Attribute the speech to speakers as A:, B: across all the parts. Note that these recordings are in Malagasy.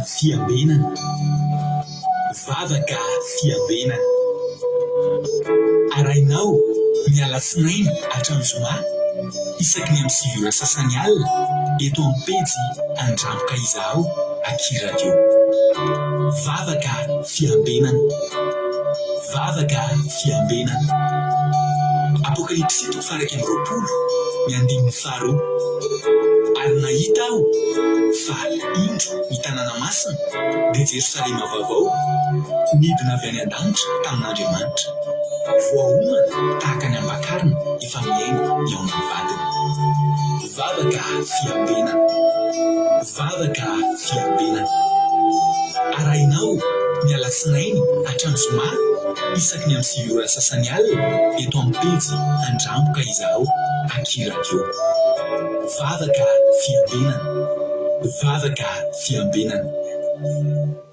A: fiambenana, vavaka fiambenana. Arahinao ny alatsinainy hatramin'ny zoma isaky ny amin'ny sivy ora sasany alina eto amin'ny pejy Andramboka Izaho aky radio. Vavaka fiambenana, vavaka fiambenana. Apokalypsy toko faha iraika amby roapolo, ny andininy fito. Paro. Ary nahita aho fa, indro, ny tanàna masina, dia Jerosalema Vaovao, nidina avy any an-danitra tamin'Andriamanitra, voaomana tahaka ny ampakarina efa mihaingo ny ao amin'ny vadiny. Vavaka fiambenana. Vava ka fiambenana. Arahinao ny Alatsinainy hatramin'ny Zoma isaky ny amin'ny sivy ora sasany alina eto amin'ny pejy Handramboka izaho aky radio. Vava ka fiambenana. Vava ka fiambenana.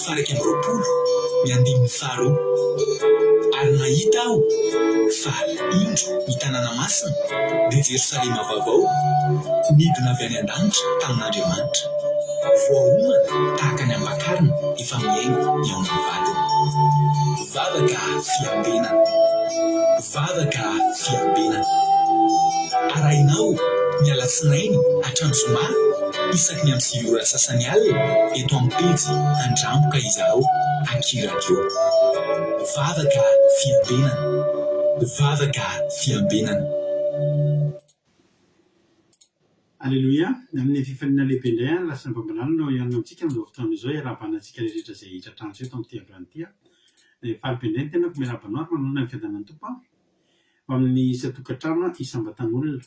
A: faha-iraika amby roapolo ny andininy faharoa, Ary nahita aho fa, indro, ny tanàna masina, dia Jerosalema Vaovao, nidina avy any an-danitra tamin'Andriamanitra, voaomana tahaka ny ampakarina efa miaina ny ao amin'ny vadiny. Vavaka fiambenana, vavaka fiambenana. Arahinao ny alatsinainy hatramin'ny zoma isaky ny amin'ny sivy ora sasany alina eto amin'ny pejy Handramboka izaho aky radio. Vavaka fiambenana, vavaka fiambenana.
B: Aleloia, amin'ny fifaliana lehibe indray ary lasa Bambalalana no hihaona amintsika amin'izao fotoana izao hiarahabana antsika rehetra izay hitratra antso eto amin'ity androany ity aho. Dia faly be indray ny tenako miarahaba anao ary manonona ny fiadanan'ny Tompo aho ho amin'ny isan-tokantrano isam-batan'olona.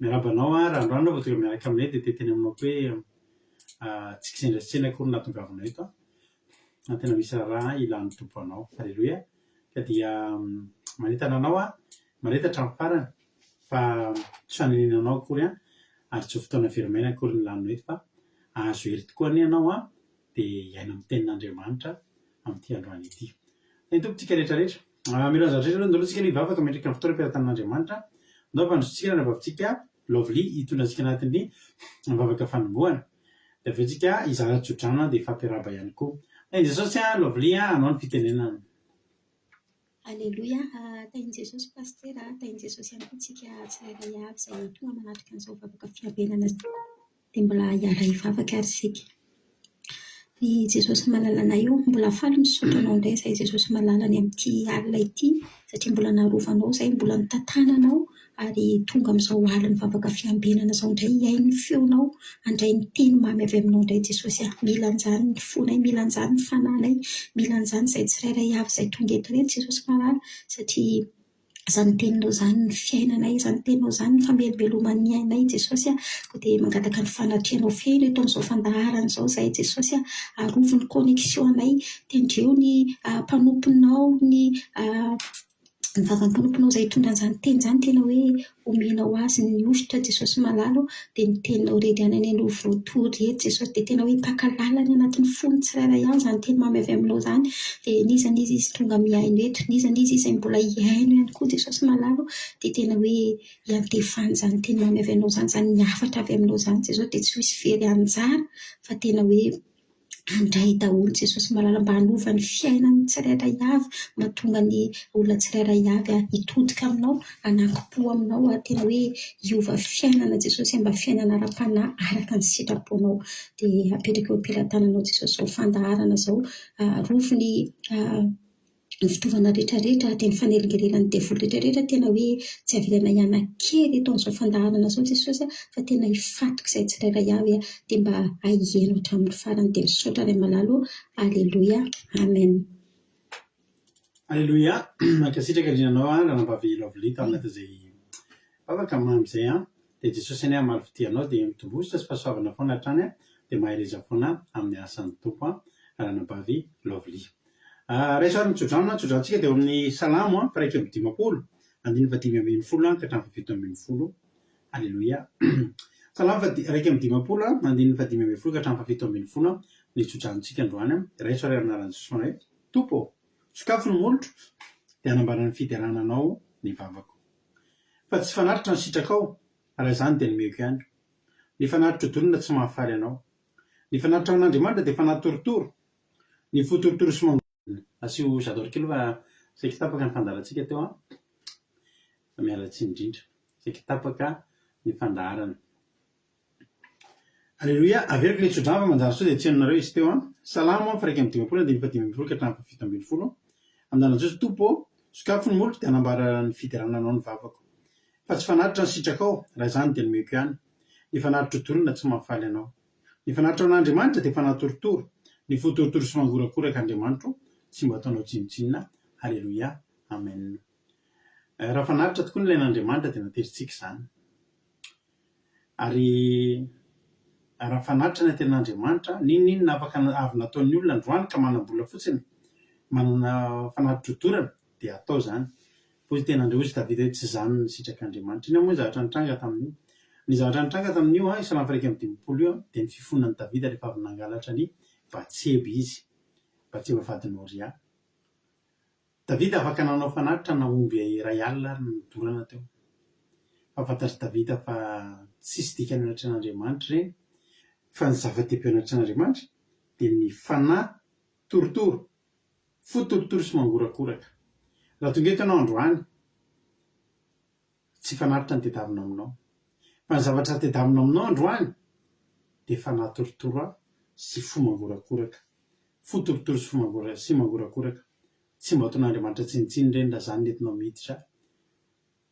B: Miarahaba anao ary androany vao tonga miaraka aminay dia te hiteny aminao koa hoe tsy kisendrasendra akory ny nahatongavanao eto aho. ary tena misy raharaha ilan'ny Tompo anao. Aleloia! Ka dia manentana anao aho mandrehitra hatramin'ny farany fa tsy fanenenana anao akory an, ary tsy ho fotoana very maina akory ny lanina eto fa ahazo hery tokoa anie ianao an, dia hiaina amin'ny tenin'Andriamanitra amin'ity androany ity. Ny Tompo tika rehetra rehetra. Mamelona ny zavatra rehetra aloha, andao aloha tsika aloha hivavaka mandritra ny fotoana am-piaratanan'Andriamanitra, andao ampandrosotsika ny anabavintsika, Lovely hitondra antsika anatin'ny vavaka fanombohana. Dia avy eo tsika hizara tsodrano dia hifampiarahaba ihany koa. Tahin'i Jesosy an Lovely an hanao ny fitenenana. Aleloia
C: aa tahin'i Jesosy Pasitera aa tahin'i Jesosy ihany koa tsika tsirairay avy izay toa manatrika an'izao vavaka fiabenana izao. Dia mbola hiala hivavaka ary isika. Ry Jesosy malalanay ô, mbola faly misaotra Anao indray izahay Jesosy malala ny amin'ity alina ity satria mbola narovanao izahay, mbola notantananao ary tonga amin'izao alin'ny vavaka fiambenana izao indray hihaino ny feonao, handray ny teny mamy avy aminao indray Jesosy a. Mila an'izany ny fonay, mila an'izany ny fanahinay, mila an'izany izay tsirairay avy izay tonga eto ireto Jesosy malala satria izany teninao izany ny fiainanay, izany teninao izany ny famelobeloman'ny ainay Jesosy a, koa dia mangataka ny fanatrehanao feno eto amin'izao fandaharana izao izahay Jesosy a, arovy ny connexion-nay, tendreo ny mpanomponao, ny vavan'ny mpanomponao izay hitondra an'izany teny izany, tena hoe Omena ho azy ny hovitra Jesosy Malala ô dia ny teninao redy ihany anie no voatory redy Jesosy dia tena hoe mpaka lala any anatin'ny fon'ny tsirairay ihany izany teny mamy avy aminao izany dia n'iza n'iza izy tonga mihaino eto n'iza n'iza izy izay mbola hihaino ihany koa Jesosy Malala ô dia tena hoe iantefany izany teny mamy avy aminao izany izany ny hafatra avy aminao izany Jesosy dia tsy ho hisy very anjara fa tena hoe Handray daholo Jesosy malala mba hanova ny fiainan'ny tsirairay avy mahatonga ny olona tsirairay avy hitodika aminao hanakimpo aminao ary tena hoe hiova fiainana Jesosy mba fiainana ara-panahy araka ny sitraponao dia apetraka eo am-pelatananao Jesosy izao fandaharana izao arovy ny ny fitaovana rehetrarehetra dia ny fanelingelenan'ny devoly rehetrarehetra tena hoe tsy avelana hianankely eto amin'izao fandaharana izao Jesosy a fa tena hifatoky izay tsirairay avy a dia mba haheno hatramin'ny farany dia misaotra Ray malala ô Aleloia Amen
B: Aleloia Mankasitraka indrindra anao a Ranabavy Lovely tao anatin'izay vavaka mamy izay a dia Jesosy anie hamaly fitia anao dia mitombositra sy fahasoavana foana hatrany a dia mahereza foana amin'ny asan'ny Tompo a Ranabavy Lovely Raiso ary ny tsodrano na tsodrantsika dia eo amin'ny Salamo fa iraika amby dimampolo, andininy fahadimy ambin'ny folo ka hatramin'ny fahafito ambin'ny folo. Haleloia. Salamo fa iraika amby dimampolo, andininy fahadimy ambin'ny folo ka hatramin'ny fahafito ambin'ny folo ny tsodranontsika androany. Raiso ary amin'ny anaran'i Jesoa Anay, Tompo ô, sokafy ny molotro dia hanambara ny fiderana Anao ny vavako. Fa tsy fanatitra ny sitrakao, raha izany dia nomeko ihany. Ny fanatitro-dolona tsy mahafaly Anao. Ny fanatitra ho an'Andriamanitra dia fanatitorotoro, Ny fo torotoro sy mangoro. Asio j'adore kely fa saiky tapaka ny fandaharantsika teo an! Fa miala tsiny indrindra. Saiky tapaka ny fandaharana. Aleloia! Averiko ilay tsodrano fa manjary sao dia tsy henonareo izy teo an! Salamo am fa iraika amby dimampolo andininy fahadimy ambin'ny folo ka hatramin'ny fahafito ambin'ny folo Andanan'i Jeso Tompo ô! Sokafy ny moloko dia hanambara ny fiderana Anao ny vavako. Fa tsy fanatitra ny sitrakao, raha izany dia nomeko ihany. Ny fanatitra ho dorana tsy mahafaly Anao. Ny fanatitra an'Andriamanitra dia fanatorotoro, ny fo torotoro sy mangorakoraka Andriamanitro tsy mba ataonao tsinontsinona, Haleloia, Amen. Raha fanatitra tokoa ny ilaina Andriamanitra dia naterintsika izany. Ary raha fanatitra ny antenaN'Andriamanitra, n'inon'inona afaka avy nataon'ny olona androany ka manam-bola fotsiny, manana fanatitrodorana, dia atao izany. Hoy ny tenandry, Hoy i Davida hoe, Tsy zany ny sitrak'Andriamanitra. Inona moa ny zavatra nitranga tamin'io? Ny zavatra nitranga tamin'io, io salamo faha-iraika amby dimampolo io, dia ny fifonan'i Davida rehefa avy nangalatra an'i Batseba izy, Batseba vadin'i Oria. Davida afaka nanao fanatitra na omby iray alina ary no nodorana teo. Fa fantatr'i Davida fa tsisy dikany ao anatrehan'Andriamanitra ireny. Fa ny zava-dehibe ao anatrehan'Andriamanitra dia ny fanahy torotoro Fo torotoro sy mangorakoraka. Raha tonga eto ianao androany, tsy fanatitra ny tedavina aminao. Fa ny zavatra tedavina aminao androany dia fanahy torotoro sy fo mangorakoraka. Fo torotoro sy fo sy mangorakoraka. Tsy mba ataon'Andriamanitra tsinontsinona ireny raha izany no entinao miditra.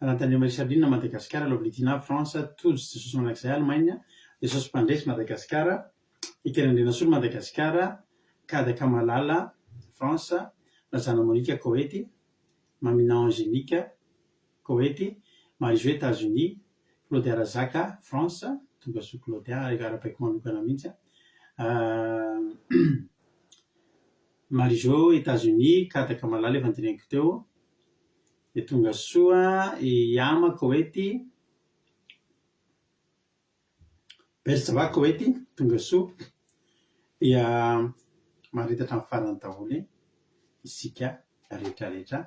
B: Rantanio-May Charline Madagascar Lovely-Tina France Tojo Jesosy Mandrakizay Allemagne Jesosy Mpandresy Madagascar Ekena Andrianasolo Madagascar Kada Kamalala France Razana Monica Koety Mamina Angélique Koety Marie-Jo Etats-Unis Claudia Razaka France Tombokasoa Claudia arabaiko manokana mihitsy an Marie-Jo Etats-Unis Kada Kamalala efa noteneniko teo Dia tonga soa i Yama Koety, Berjava Koety, tonga soa dia maritatra amin'ny farany daholo isika rehetra rehetra.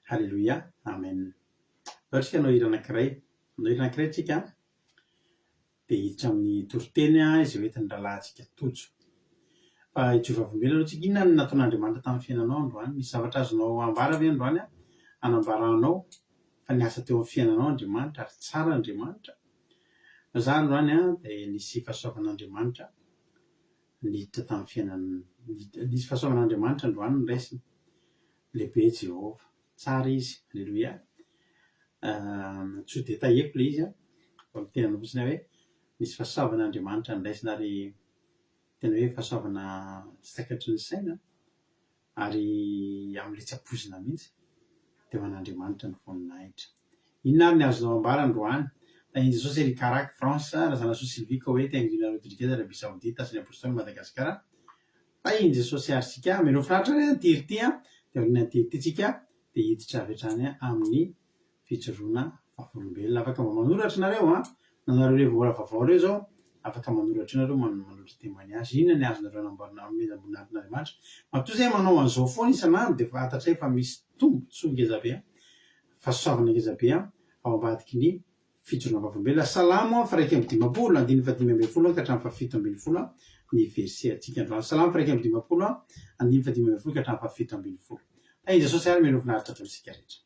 B: Haleloia, Amen. Zao isika hanao hira anankiray, hanao hira anankiray isika an. dia hiditra amin'ny toriteny izay hoentin'ny rahalahintsika Tojo. Fa i Jehovah velona aloha tsika. Inona no nataon'Andriamanitra tamin'ny fiainanao androany? Misy zavatra azonao ambara ve androany hanambaranao fa niasa teo amin'ny fiainanao Andriamanitra ary tsara Andriamanitra? Fa izaho androany dia nisy fahasoavan'Andriamanitra niditra tamin'ny fiainan'ny, nisy fahasoavan'Andriamanitra androany noraisina. Lehibe Jehovah. Tsara izy. Aleloia. Tsy ho detailleko ilay izy fa miteny anao fotsiny aho hoe misy fahasoavan' Andriamanitra andraisina ary tena hoe fahasoavana tsy takatry ny saina ary amin'ilay tsy ampoizina mihitsy dia ho an'Andriamanitra ny voninahitra. Inona ary ny azonao ambara androany? Tahian'i Jesosy ery Karak, France, Razanasoa Sylvie Koweït Angina Rodriguez Arabie Saoudite Asan'ny Apôstôly Madagasikara Tahin'i Jesosy àry isika. Mino fatratra ny antiry ity, dia noho ny antiry ity isika dia hiditra avy hatrany amin'ny fijoroana vavolombelona. Afaka mba manoratra ianareo an! Nanareo ilay vola vaovao ireo izao, afaka manoratra eo ianareo, manoratra temainy azy. Inona ny azonareo anamboarana amin'ny ambonin'aretin'Andriamanitra? Matoa izay manao an'izao foana isan'andro dia efa fantatray fa misy tombontsoa ngeza be an! Fahasoavana ngeza be an! Ao ambadiky ny Fijoroana vavolombelona, Salamo a, fa iraika amby dimampolo, andininy fahadimy ambin'ny folo an ka hatramin'ny fahafito ambin'ny folo an, ny verset antsika androany. Salamo fa iraika amby dimampolo an, andininy fahadimy ambin'ny folo ka hatramin'ny fahafito ambin'ny folo. Tahin'i Jesosy ary mialoha finaritra daholo isika rehetra.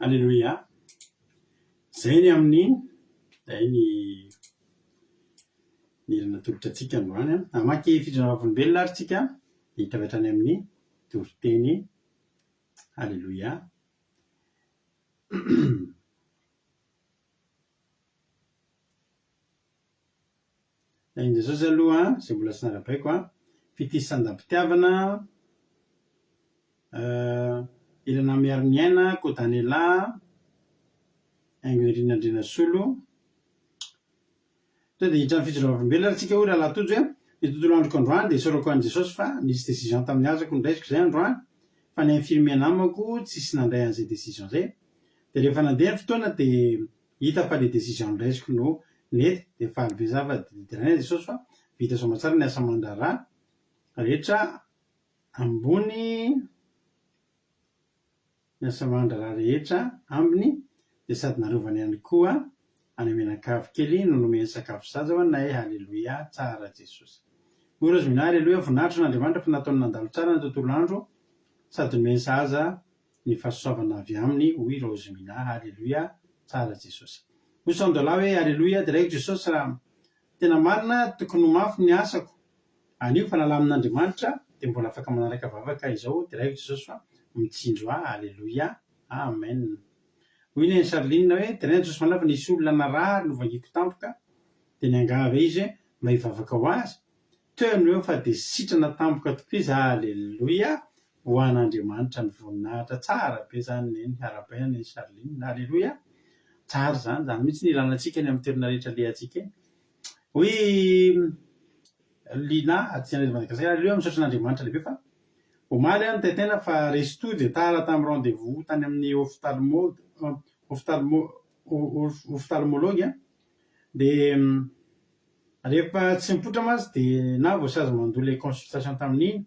B: Alléluia zay ny amin'ny zay ny nirina natolotra antsika androany an hamaky fidrina vavolombelona ary tsika hita avy hatrany amin'ny toriteny Alléluia Ny an'i Jesosy aloha an, izay mbola tsy narabaiko an, fitia sandam-pitiavana, ilana miaro ny aina, kodanela, haingo irin'ny Andrianasolo. Tonga dia hiditra amin'ny fijoroam-bolombelona ary tsika hoy Rahalahy Tojo hoe, ny tontolo androko androany dia isaorako an'i Jesosy fa nisy decision tamin'ny azako noraisiko izay androany, fa ny infirmier namako tsisy nandray an'izay decision izay. Dia rehefa nandeha ny fotoana dia Hita fa le decision ndraisiko no nety de faly be za fa de deraina Jesosy fa vita soamatsara ny asa amandraharaha rehetra ambony ny asa amandraharaha rehetra ambiny de sady narovany ihany koa any menakavy kely no nomeny sakafo zaza ho anay haleloia tsara Jesosy oh Razominahy haleloia voninahitra ho an'Andriamanitra fa nataony nandalo tsara ny tontolo andro sady nomeny sahaza ny fahasoavana avy aminy hoy Raoziminah Aleloia tsara Jesosy Hoy Sandolah hoe Aleloia deraiko Jesosy raha tena marina tokony ho mafy ny asako anio fa raha lamin'Andriamanitra dia mbola afaka manaraka vavaka izao deraiko Jesosy fa mitsinjo ahy Aleloia Amen Hoy Neny Charline hoe deraina Jesosy Manava nisy olona narary novangiko tampoka dia niangavy ahy izy hoe mba hivavaka ho azy Teo ny eo fa dia sitrana tampoka tokoa izy Aleloia ho an' Andriamanitra ny voninahitra Tsara be izany Neny Arabe an' Neny Charline Aleloia Tsara izany izany mihitsy no ilana antsika eny amin' ny toerana rehetra alehantsika eny Oui Lina aty Andraizo Madagasikara Aleloia Misaotra an' Andriamanitra lehibe fa omaly aho nitety aina fa resto dia tara tamin'ny rendez-vous tany amin'ny Ophtalmo Ophtalmo Ophtalmologue an! Dia rehefa tsy nipoitra mantsy dia na voasazy mandoa ilay consultation tamin'iny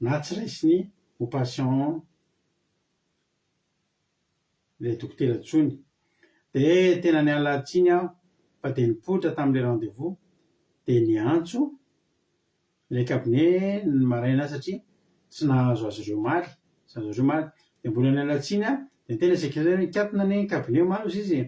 B: na tsy raisiny ho patient ilay dokotera intsony. Dia tena niala tsiny aho fa dia nipoitra tamin'ilay rendez-vous dia niantso ilay cabinet ny maraina aho satria tsy nahazo azy ireo omaly, tsy nahazo azy ireo omaly. Dia mbola niala tsiny aho dia niteny ilay secretaire hoe nikatona anie ny cabinet omaly hoy izy e!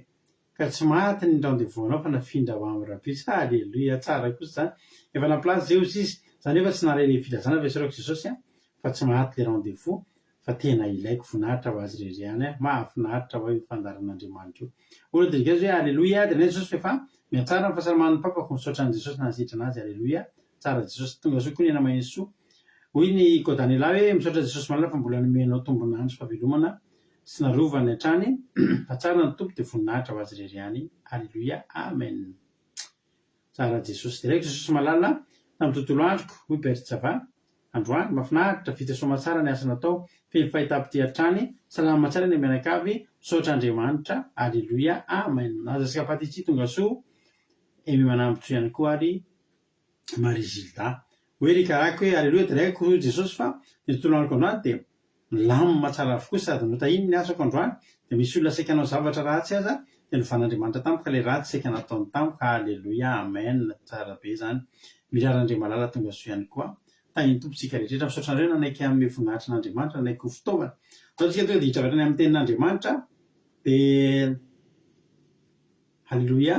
B: Ka tsy maty ny rendez-vous nao fa nafindra ho am rabeca Alléluia tsara kosa zany efa nampilaza Zeozy izy za nefa tsy naharay le filazana fa esorako Jesosy a fa tsy maty le rendez-vous fa tena ilaiko voninahitra ho azy rery ihany a mahafinaritra oay io fandaharan'Andriamanitra io O Rodriguez hoe Alléluia de nai Jesosy fa efa mihatsara ny fahasalamany ny papa fo misaotra an'i Jesosy nanasitrana azy Alléluia Tsara Jesosy tonga soa koa ny anao Mahesoa hoy ny ko Daniela hoe misaotra Jesosy malala fa mbola nomeny anao tombona andro sy fahavelomana sy narovany hatrany fa tsara ny Tompo dia voninahitra ho azy irery ihany Alléluia Amen Tsara Jesosy Jereko Jesosy malala tamin'ny tontolo androko hoy Bertsava androany mafinaritra vita soamatsara ny asa natao feno fahitapitia hatrany salama tsara ny mianakavy misaotra Andriamanitra Alléluia Amen Aza Sikapaty Tsy tonga soa Aimé Manambotso ihany koa ary Marie Gilda. Hoe ry karako hoe Aleloia Dray ko hoy Jesosy fa ny tontolo anako androany dia milamina tsara avokoa sady notahiny ny asako androany dia misy olona saika hanao zavatra ratsy aza dia novana Andriamanitra tamiko ilay ratsy saika nataony tamiko Aleloia Amen tsara be zany Mirary andre malala tongasoa ihany koa Tahin'ny Tompo tsika rehetra Misaotra anareo nanaiky hanome voninahitra an'Andriamanitra nanaiky ho fitaovana Atao tsika tonga dia hiditra avy hatrany amin'ny tenin'Andriamanitra dia Aleloia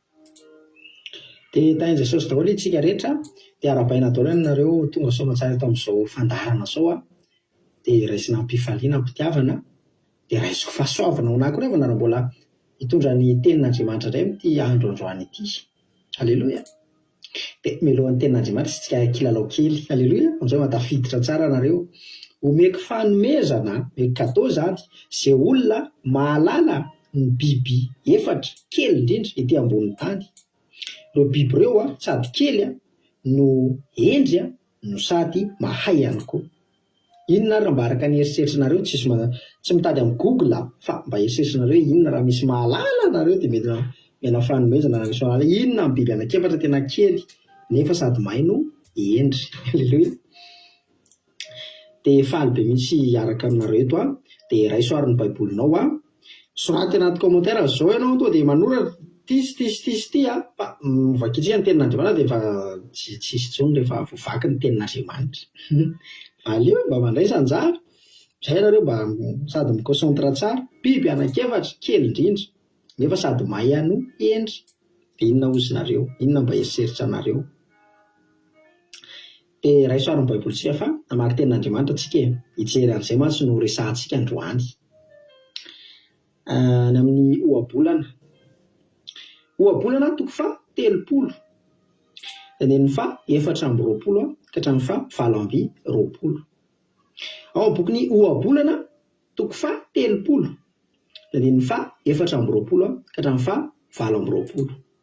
D: Dia tahin'i Jesosy daholo isika rehetra, dia arahabaina daholo ianareo ho tonga soamantsara eto amin'izao fandaharana izao aho, dia raisina amim-pifaliana, amim-pitiavana, dia raisiko fahasoavana ho anà koa rehefa nareo mbola hitondra ny tenin'Andriamanitra indray amin'ity andro androany ity. Aleloia! Dia mialoha ny tenin'Andriamanitra isika kilalao kely. Aleloia! Amin'izay mba tafiditra tsara nareo. Omeko fanomezana, omeko cadeau izany, izay olona mahalala ny biby efatra kely indrindra ety ambonin'ny tany. Ireo biby ireo sady kely no hendry no sady mahay ihany koa. Inona ary raha mba araka ny eritreritrinareo tsisy ma tsy mitady am google a fa mba eritreritrinareo hoe inona raha misy mahalala nareo dia mety miala fanomezana raha misy mahalala inona am biby anak'efatra tena kely nefa sady mahay no hendry aleloia dia faly be mihitsy hiaraka aminareo eto a dia raiso ary ny baibolinao a Soraty anaty commentaire zao ianao toa dia manoratra ity sy ity sy ity sy ity a! Fa vakitsika ny tenin'Andriamanitra dia efa tsy tsy hisy intsony rehefa voavaky ny tenin'Andriamanitra. Valio mba mandraisa anjara. Izay ianareo mba sady mi-concentre tsara. Biby anankiefatra, kely indrindra, nefa sady mahay hanoa hendry. Dia inona hozy nareo? Inona mba eritreritranareo? Dia raiso ary ny baiboly tsika fa namaky tenin'Andriamanitra tsika e! Hijery an'izay mantsy no resahantsika androany. Any amin'ny ohabolana. Ohabolana toko faha telopolo. Andininy faha efatra amby roapolo ka hatramin'ny faha valo amby roapolo. Ao amin'ny bokin'ny ohabolana toko faha telopolo. Andininy faha efatra amby roapolo ka hatramin'ny faha valo amby roapolo.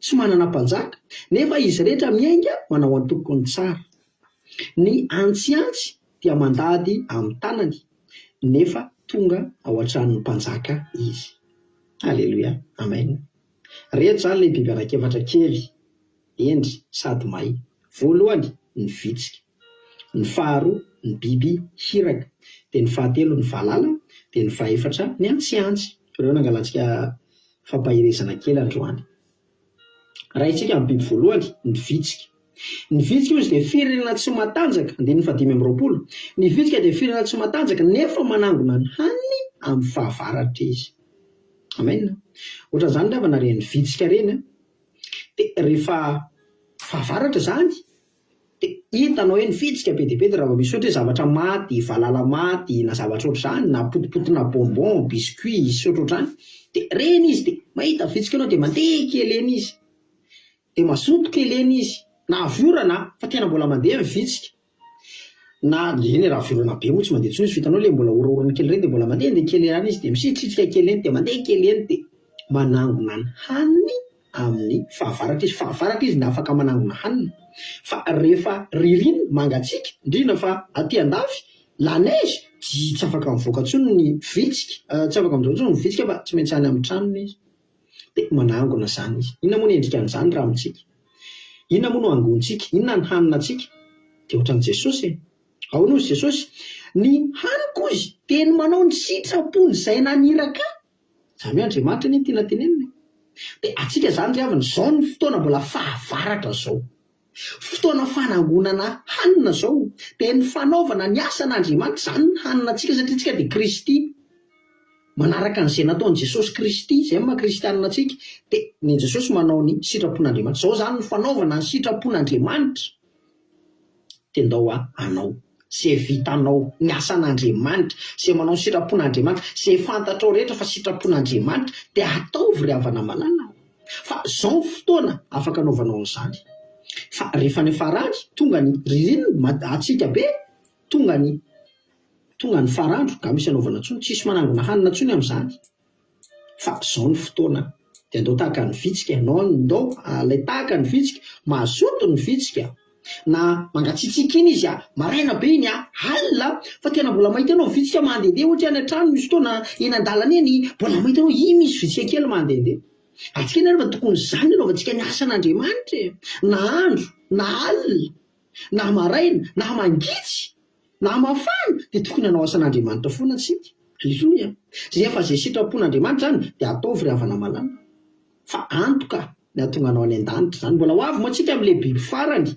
D: Tsy manana mpanjaka, nefa izy rehetra miainga manao antoko ny tsara. Ny antsiantsy dia mandady amin'ny tanany, nefa tonga ao an-tranon'ny mpanjaka izy. Aleloia! Amen! Reto izany ilay biby anankiefatra kely, hendry sady may. Voalohany, ny vitsika. ny faharoa ny biby hiraka, dia ny fahatelo ny valala, dia ny fahefatra ny antsiantsy. Ireo no angalantsika fampaherezana kely androany. Rahintsika amin'ny biby voalohany, ny vitsika. Ny vitsika hozy dia firenena tsy matanjaka, andininy fahadimy amby roapolo. Ny vitsika dia firenena tsy matanjaka nefa manangona ny haniny amin'ny fahavaratra izy. Amen. Ohatran'izany angamba naren'ny vitsika ireny. Dia rehefa fahavaratra izany, Hitanao hoe nifiditsika be dia be dia raha vao misy ohatra hoe zavatra maty, valala maty na zavatra ohatr'izany na potipotina bonbon, biscuit sy ohatrohatrany dia reny izy dia mahita vitsika ianao dia mandeha kely eny izy dia mazoto kely eny izy na avy orana an, fa tena mbola mandeha ny vitsika na eny e, raha avy orana be moa tsy mandeha intsony izy fa hitanao ilay mbola oraorany kely ireny dia mbola mandehandeha kely ihany izy dia misitrisitrika kely eny dia mandeha kely eny dia manangona ny haniny amin'ny fahavaratra izy, fahavaratra izy ny afaka manangona hanina fa rehefa ririnina, mangatsiaka, indrindra fa aty andafy, la neige, tsy tsy afaka mivoaka intsony ny vitsika, tsy afaka mijoro intsony ny vitsika fa tsy maintsy any amin'ny tranony izy, dia manangona izany izy, inona moa ny endikan'izany raha amintsika? inona moa no angontsika? inona ny haninantsika? dia ohatran'i Jesosy e! ahoana hozy Jesosy? ny haniko hozy dia ny manao ny sitrapony izay naniraka ahy, Izany hoe Andriamanitra anie no tiana tenenina e! Dia antsika izany ry havana, izao no fotoana mbola fahavaratra izao. Fotoana fanangonana hanina izao, dia ny fanaovana ny asan'Andriamanitra izany ny hanina antsika satria antsika dia Kristy. Manaraka an'izay nataon'i Jesosy Kristy, izay ny maha Kristianina antsika, dia ny an'i Jesosy manao ny sitrapon'Andriamanitra. Izao izany no fanaovana ny sitrapon'Andriamanitra. Dia ndao aho hanao izay vitanao ny asan'Andriamanitra, izay manao ny sitrapon'Andriamanitra, izay fantatrao rehetra fa sitrapon'Andriamanitra dia ataovy ry havana malala a! Fa izao ny fotoana afaka anaovanao an'izany. Fa rehefa any farany, tonga ny ririnina, mangatsiaka be, tonga ny tonga ny farandro, nga misy anaovana intsony? Tsisy manangona hanina intsony amin'izany. fa zao ny fotoana de andao tahaka ny vitsika ianao ndao lay tahaka ny vitsika mazoto ny vitsika na mangatsiatsiaka iny izy maraina be iny alina fa tena mbola mahita anao vitsika mandende ohatra any antrano misy fotoana eny andalana eny mbola mahita anao iny misy vitsika kely mandende atsika anie refa tokony zany anaovantsika ny asan'Andriamanitra e na andro na alina na maraina na mangitsy Na mafana dia tokony hanao asan'Andriamanitra foana isika. Bisous a. Zay efa zay sitrapon'Andriamanitra zany dia ataovy ry havana malala. Fa antoka ny hahatonga anao any an-danitra zany. Mbola ho avy moa tsika amin'ilay biby farany.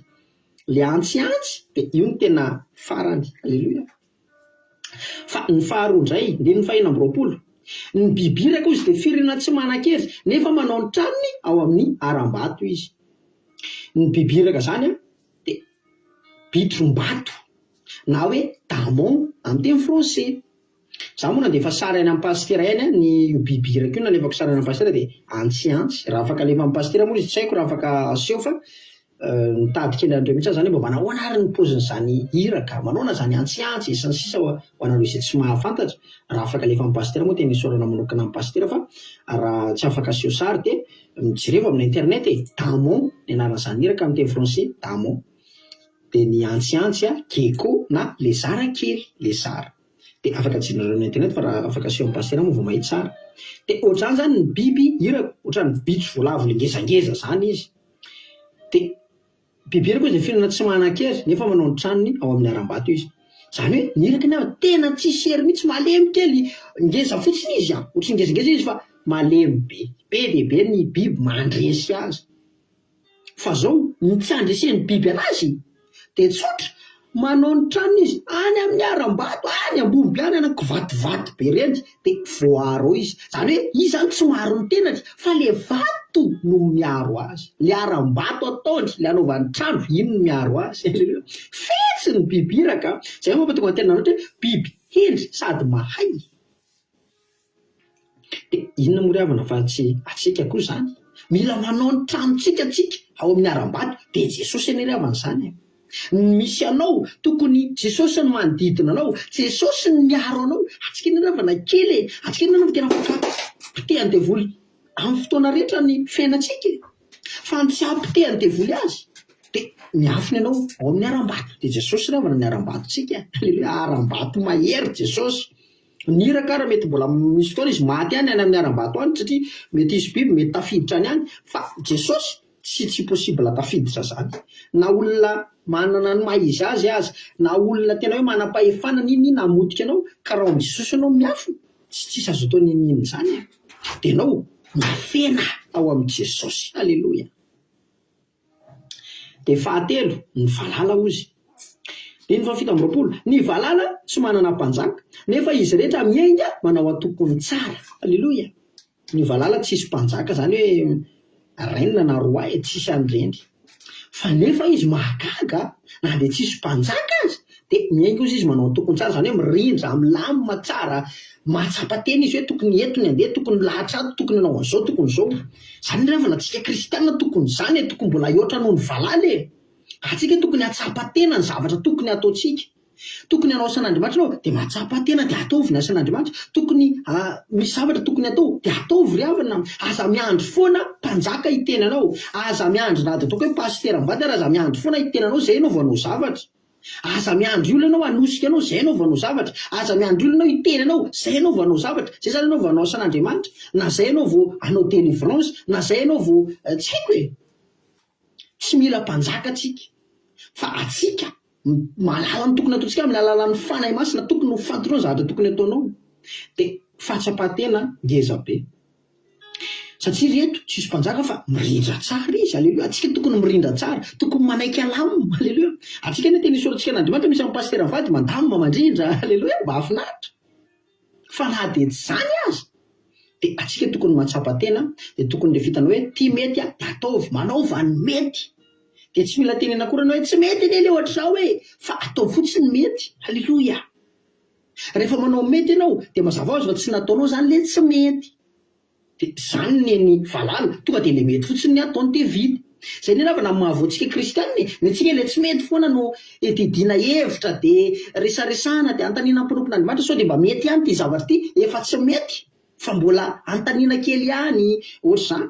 D: Ilay antsiantsy dia io no tena farany. Aleloia. Fa ny faharoa indray, andininy fahenina amby roapolo, ny biby iraka hoy izy dia firenena tsy manan-kery nefa manao ny tranony ao amin'ny harambato izy. Ny biby iraka zany an. dia bitrom-bato na hoe damon amin'ny teny français. Izaho moa nandefa sary any amin'ny pasitera ihany an, ny io biby iraka io nalefako sary any amin'ny pasitera dia antsiantsy, raha afaka alefa amin'ny pasitera moa izy tsy haiko raha afaka aseho fa nitady kely an'ireo mihitsy aho izany hoe mba manahoana ary ny paozin'izany iraka, manahoana izany antsiantsy e, sy ny sisa Ho anareo izay tsy mahafantatra, raha afaka alefa amin'ny pasitera moa tena isaorana manokana an'i pasitera fa raha tsy afaka aseho sary dia Nojerevo amina internet e! Damon ny anaran'izany iraka amin'ny teny franse, damon dia ny antsiantsy, gecko na lezara kely, lezara. Dia afaka jereo amina internet fa raha afaka aseho amin'ny pasitera moa vao mahita tsara. Dia ohatr'izany izany ny biby irako, ohatran'ny bitro voalavo le ngezangeza izany izy. Dia Bebe ery koa izay fihinana tsy manan-kery nefa manao ny tranony ao amin'ny harambato izy. Izany hoe ny irakany an, tena tsisy hery mihitsy, malemy kely, ngeza fotsiny izy an, ohatry ny ngezangeza izy fa malemy be. Be dia be ny biby mandresy azy. Fa izao ny tsy handresen'ny biby anazy dia tsotra, Manao ny tranony izy any amin'ny harambato any ambomby any ana kivativaty be reny de voaaro ao izy zany hoe izy zany tsy miaro ny tenany fa le vato no miaro azy le harambato ataony le anaovany trano iny no miaro azy fetsy ny biby iraka a zay mampatonga ny tena nanoatra hoe biby hendry sady mahay. Dia inona moa ry havana fa tsy antsika koa izany? Mila manao ny tranontsika tsika ao amin'ny harambato dia i Jesosy anie ry havana izany e! Ny misy anao tokony Jesosy ny manodidina anao, Jesosy ny miaro anao, antsika anie ry havana kely e! Antsika anie no tena potehan'ny devoly amin'ny fotoana rehetra ny fiainantsika e! Fa ny tsy hahapotehan'ny devoly azy dia miafina ianao ao amin'ny harambato, dia Jesosy ry havana ny harambatontsika e! Aleloia, harambato mahery Jesosy. Ny iraka ary mety mbola misy fotoana izy maty any any amin'ny harambato any satria mety hisy biby mety tafiditra any any fa Jesosy tsy tsy possible tafiditra zany na olona manana ny maha izy azy aza na olona tena hoe manam-pahefana n'inn n'inn hamotika anao ka raha ao amin'i Jesosy ianao miafina tsy tsisy azo atao n'inn n'inn zany an! dia ianao mifenaha ao amin'i Jesosy! Aleloia! Dia fahatelo, ny valala ozy. Diny fahafito amby roapolo, Ny valala tsy manana mpanjaka, nefa izy rehetra miainga manao antokony tsara. Aleloia! Ny valala tsisy mpanjaka, zany hoe reine na roi e, tsisy an'ireny. Fa nefa izy mahagaga, na dia tsisy mpanjaka aza, Dia mihaino kosa izy manao ny tokony tsara, izany hoe mirindra, milamina tsara, mahatsapa tena izy hoe tokony eto ny handeha, tokony milahatra ato, tokony hanao an'izao, tokony izao. Izany indray vao na antsika kristiana tokony izany e, tokony mbola hihoatra noho ny valala e. Antsika tokony hahatsapa tena ny zavatra tokony hataontsika. Tokony hanao asan'Andriamanitra ianao dia mahatsapa tena dia ataovy ny asan'Andriamanitra. Tokony ha, misy zavatra tokony hatao dia ataovy ry havana. Aza miandry foana mpanjaka hiteny anao. Aza miandry na dia ataoko hoe pasitera mivady ary aza miandry foana hiteny anao izay ianao vao hanao zavatra. Aza miandry olona ianao hanosika anao, izay ianao vao hanao zavatra. Aza miandry olona ianao hitery anao, izay ianao vao hanao zavatra. Izay izany ianao vao hanao asan'Andriamanitra, na izay ianao vao hanao délivrance, na izay ianao vao, tsy haiko e! Tsy mila mpanjaka tsika, fa atsika mahalala ny tokony hataontsika amin'ny alalan'ny Fanahy Masina, tokony ho fantinao ny zavatra tokony hataonao. Dia fahatsapan-tena ngezabe. Satria ry eto tsisy mpanjaka fa mirindra tsara izy, aleloia, antsika tokony mirindra tsara, tokony manaiky alam, aleloia, antsika anie tena isoratsika an'Andriamanitra misy amin'ny pasitera mivady mandamina mandrindra, aleloia, mahafinaritra, fa na dia tsy izany aza dia antsika tokony mahatsapa tena, dia tokony ilay fitana hoe ity mety a, dia ataovy, manaova ny mety, dia tsy mila tenena akory ianao hoe tsy mety anie ilay ohatr'izao e, fa ataovy fotsiny ny mety, aleloia. Rehefa manao mety ianao dia mazava hoazy fa tsy nataonao izany ilay tsy mety. Dia izany neny valala, tonga dia ilay mety fotsiny ny ataony dia vita. Izay neny havana ny mahavoa antsika kristiana e, ny antsika ilay tsy mety foana no edidiana hevitra dia resaresahana dia anontaniana ny mpanompon'Andriamanitra sao dia mba mety ihany ity zavatra ity, efa tsy mety fa mbola anontaniana kely ihany, ohatr'izany.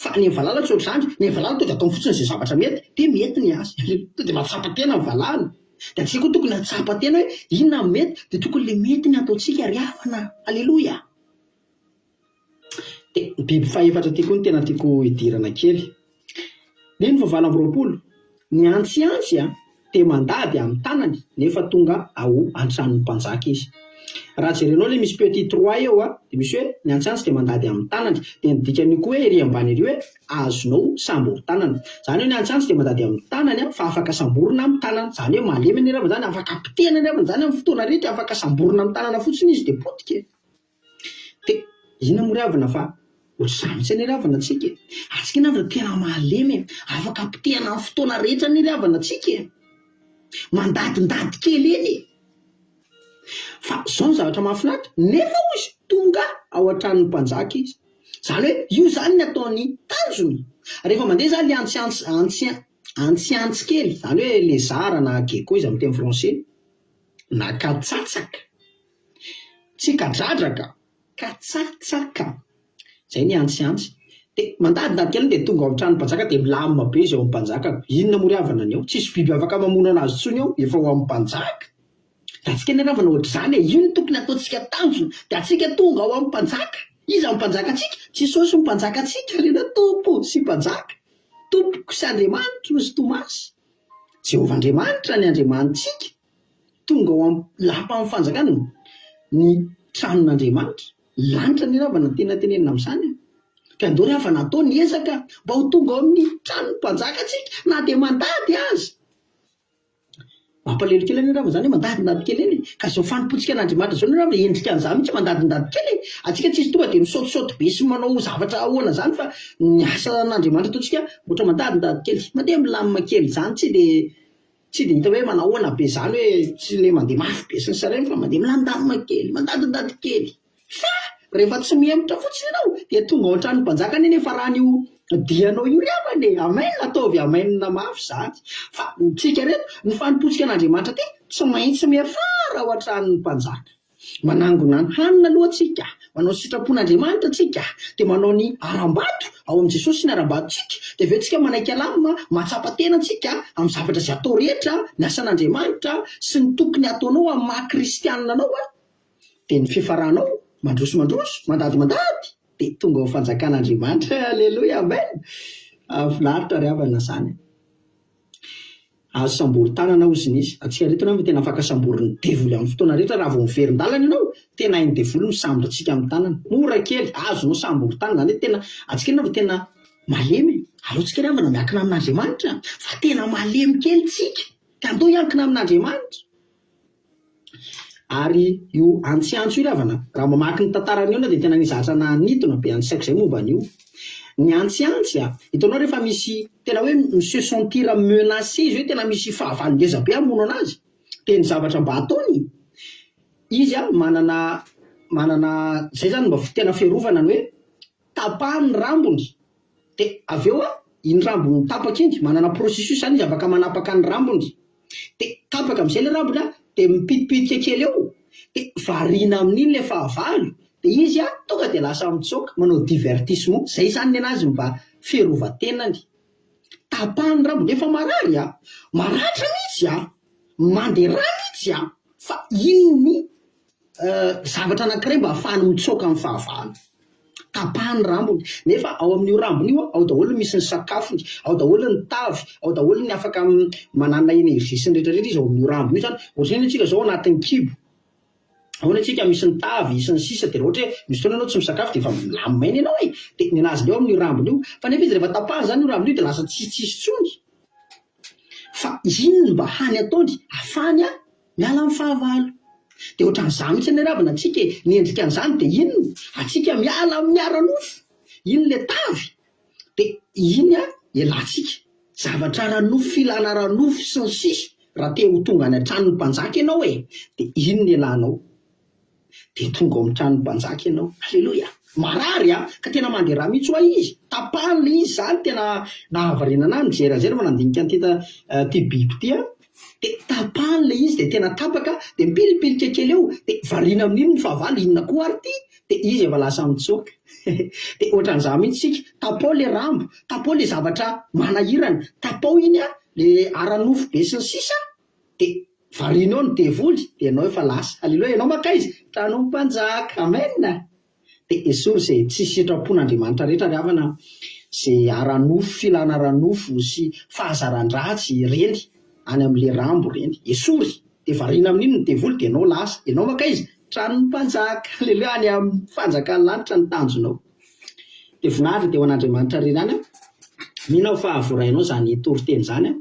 D: Fa ny an'i valala tsy ohatr'izany, ny an'i valala tonga dia ataony fotsiny izay zavatra mety, dia mety ny azy, tonga dia mahatsapa tena ny valala, dia antsika koa tokony hahatsapa tena hoe inona no mety, dia tokony ilay mety ny ataontsika ary havana, aleloia! Dia ny biby fahefatra ity koa no tena tiako hidirana kely, ny fahavalo amby roapolo, Ny antsiantsy a te mandady am tanany nefa tonga ao antranony mpanjaka izy. Raha jerenao le misy petit trois eo a de misy hoe ny antsiantsy de mandady am tanany de ny dikan'io koa hoe ery ambany ery hoe azonao sambory tanana. Zany hoe ny antsiantsy de mandady am tanany a fa afaka samborina am tanana. Zany hoe malemy ny raviny zany afaka potehina ny raviny zany am fotoana rehetra afaka samborina am tanana fotsiny izy de potika e. Dia inona moa ry havana fa ohatr'izany mihitsy anie ry havana antsika e! Antsika anie ry havana tena mahalemy e! Afaka apotehana amin'ny fotoana rehetra anie ry havana antsika e! Mandadindady kely eny e! Fa izao no zavatra mahafinaritra, nefa hoy izy, tonga ao an-tranon'ny mpanjaka izy. Izany hoe io izany ny ataon'ny tanjona. Rehefa mandeha izany ilay antsiantsy, antsi, antsiantsy kely, izany hoe lézard na gecko izy amin'ny teny français, na katsatsaka, Tsikan-dradraka, katsatsaka, izay ny antsiantsy. Dia mandadidady kely dia tonga ao amin'ny tranon'ny mpanjaka dia milamina be izay ao amin'ny mpanjaka. Inona moa ry havana ny ao? Tsisy biby afaka mamono an'azy intsony ao, efa ho an'ny mpanjaka. Dia antsika ny ravana ohatr'izany e! Io no tokony hataontsika tanjona. Dia antsika tonga ao amin'ny mpanjaka. Iza ny mpanjakantsika? Jesosy no mpanjakantsika, ry anao, Tompo sy Mpanjaka. Tompoko sy Andriamanitro sy Tomasy. Jehovah Andriamanitra ny Andriamanitsika. Tonga ao amin'ny lapan'ny fanjakana ny tranon'Andriamanitra. Lanitra ny rava no tena tenenina amin'izany a! Dia andao ry havana atao ny ezaka mba ho tonga ao amin'ny tranon'ny mpanjaka isika na dia mandady aza. Mampalahelo kely anie rava izany hoe mandadindady kely anie. Ka izao fanompoantsika an'Andriamanitra izao anie rava e, endrika an'izany mihitsy mandadindady kely e. Antsika tsy hisy tonga dia misaotisaoty be sy manao zavatra ahoana izany fa ny asan'Andriamanitra ataontsika ohatra mandadindady kely, mandeha milamina kely izany tsy dia Tsy dia hita hoe manao ahoana be izany hoe tsy ilay mandeha mafy be sy ny sisa ireny fa mandeha milandamina kely, mandadindady kely. Fa rehefa tsy mihemotra fotsiny ianao dia tonga ao an-tranon'ny mpanjaka anie nefa rany io dianao io ry havana e! Amen! Ataovy amen mafy izany. Fa ny tsika ireto, ny fanompoantsika an'Andriamanitra aty tsy maintsy miafara ao an-tranon'ny mpanjaka. Manangona ny hanina aloha tsika, manao ny sitrapon'Andriamanitra tsika, dia manao ny harambato ao amin'i Jesosy ny harambatontsika, dia avy eo tsika manaiky alamina, mahatsapa tena tsika amin'ny zavatra izay atao rehetra, ny asan'Andriamanitra sy ny tokony hataonao amin'ny maha kristianina anao an! dia ny fiafaranao mandroso mandroso, mandady mandady, dia tonga ao fanjakan'Andriamanitra, aleloia, amen, hahafinaritra ry havana izany. Azo sambory tanana hozy nisy atsika reto ianao ve tena afaka sambory ny devoly aminy fotoana rehetra raha vao mivery ndalana ianao tena hainy devoly ny misambory atsika aminy tanana mora kely azonao sambory tanana zany hoe tena atsika ianao ve tena malemy aleo tsika ravana miakina amin'Andriamanitra fa tena malemy kely tsika ka ndao hiankina amin'Andriamanitra Ary io antsiantso io ry havana, raha mamaky ny tantaran'ny olona dia tena nisy zatra nanintona be an'ny saiko izay momba an'io. Ny antsiantsy, hitanao rehefa misy tena hoe mi-se sentir menacé izy hoe tena misy fahavalo ngeza be hamono anazy, dia ny zavatra mba ataony, izy manana manana izay izany mba tena fiarovana ny hoe tapahany ny rambony, Dia avy eo iny rambony tapaka iny, manana processus zany izy afaka manapaka ny rambony, dia tapaka amin'izay ilay rambony dia mipitipitika kely eo, dia variana amin'iny ilay fahavalo, dia izy tonga dia lasa mitsoaka manao divertissement, izay izany ny an'azy mba fiarovan-tenany. Tapahany ny rambony, efa marary a, maratra mihitsy a, manderaa mihitsy a, fa iny ny. zavatra anankiray mba hahafahany mitsoaka amin'ny fahavalo. Tapahany ny rambony, nefa ao amin'io rambony io ao daholo ny misy ny sakafony, ao daholo ny tavy, ao daholo ny afaka manana énergie sy ny rehetra rehetra izy ao amin'io rambony io zany. Ohatr'izay ny antsika zao anatin'ny kibo, ao ny antsika misy ny tavy sy ny sisa de raha ohatra hoe misy fotoana ianao tsy misakafo de efa milamy maina ianao e, de ny an'azy ndray ao amin'io rambony io, fa nefa izy rehefa tapahany zany io rambony io de lasa tsisy tsisy tsony, fa iny mba hany ataony hafahany a. Miala amin'ny fahavalo. Dia ohatran'izany mihitsy ny ravina antsika e. Ny endrika an'izany dia iny antsika miala amin'ny ara-nofo. Iny ilay tavy dia iny ialatsika. Zavatra ara-nofo, filana ara-nofo sy ny sisa. Raha te ho tonga any an-tranon'ny mpanjaka ianao e, dia iny no ialanao. dia tonga ao amin'ny tranon'ny mpanjaka ianao. Aleloia! Marary an! Ka tena mandeha rà mihitsy ho'a izy. Tapahany ilay izy izany, tena nahavarianana ahy nijery an'izay rehefa nandinika an'ity ity biby ity aho. Dia tapahany ilay izy dia tena tapaka, dia mipilipilika kely eo, dia variana amin'iny ny fahavalo, inona koa ary ity? Dia izy efa lasa mitsoaka. dia ohatran'izaho mihitsy isika, tapao ilay rambo, tapao ilay zavatra manahirana, tapao iny an, ilay ara-nofo be sy ny sisa, de varianao ny devoly de ianao efa lasa aleloia ianao mankaiza tranom mpanjaka amen a de esory ze tsy sitram-pon Andriamanitra rehetra ry havana a ze ara nofo filana ara nofo sy fahazaran dratsy ireny any amin le rambo ireny esory de variana amin iny ny devoly de ianao lasa ianao mankaiza tranon mpanjaka aleloia any amin fanjakan lanitra ny tanjonao de voninahitra de ho an Andriamanitra ry reny any a mino aho fa voarainao zany toriteny zany a.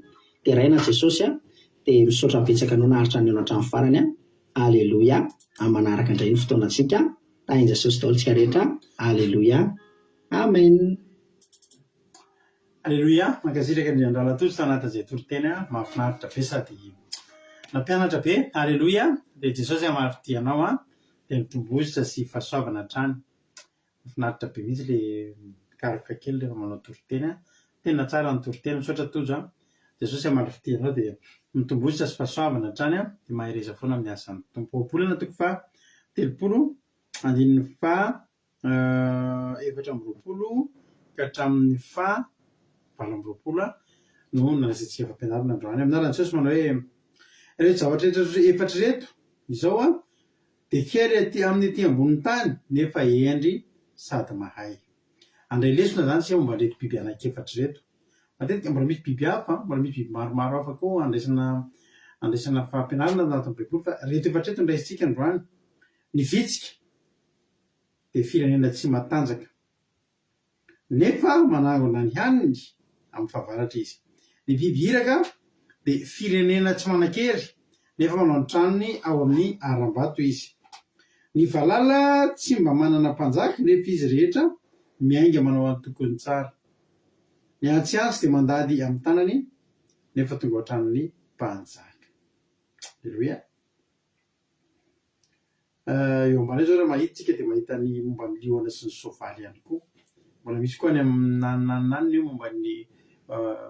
D: Deraina Jesosy a! Dia misaotra betsaka anao naharitra nihaona hatramin'ny farany a! Aleloia! Amin'ny manaraka indray ny fotoanantsika a! Tahin'i Jesosy daholo tsika rehetra a! Aleloia! Amen!
B: Aleloia! Mankasitraka indrindra Andrana Tojo Tanata izay toriteny a! Mahafinaritra be sady nampianatra be! Aleloia! Dia Jesosy hamaritia anao a! Dia mitombo hozitra sy fahasoavana hatrany! Mafinaritra be mihitsy le mikaroka kely rehefa manao toriteny a! Tena tsara ny toriteny, misaotra Tojo a! Jesosy hamaly fitia anao dia mitombohitra sy fahasoavana hatrany a! Dia mahereza foana amin'ny asan'ny Tompo. Ao am-polana toko faha telopolo andininy faha efatra amby roapolo ka hatramin'ny faha valo amby roapolo a! no nalazaintsika fampianarana androany. Amin'ny anaran'i Jesosy manao hoe, Ireto zavatra rehetra efatra ireto izao a! Dia kely aty aminy aty ambonin'ny tany nefa hendry sady mahay. Handray lesona izany isika momba an'ireto biby anankiefatra ireto. Matetika mbola misy biby hafa an, mbola misy biby maromaro hafa koa handraisana handraisana fampianarana ao anatin'ny baiboly fa ireto efatra ireto no raisintsika androany. Ny vitsika dia firenena tsy matanjaka. nefa manangona ny haniny amin'ny fahavaratra izy. Ny biby iraka dia firenena tsy manan-kery, nefa manao ny tranony ao amin'ny harambato izy. Ny valala tsy mba manana mpanjaka, nefa izy rehetra miainga manao antokony tsara. Ny antsiantsy dia mandady amin'ny tanany, nefa tonga ao an-tranon'ny mpanjaka. Aleloia! Eo ambany eo izao raha mahita isika dia mahita ny momba ny liona sy ny soavaly ihany koa. Mbola misy koa any amin'ny anananana eo momba ny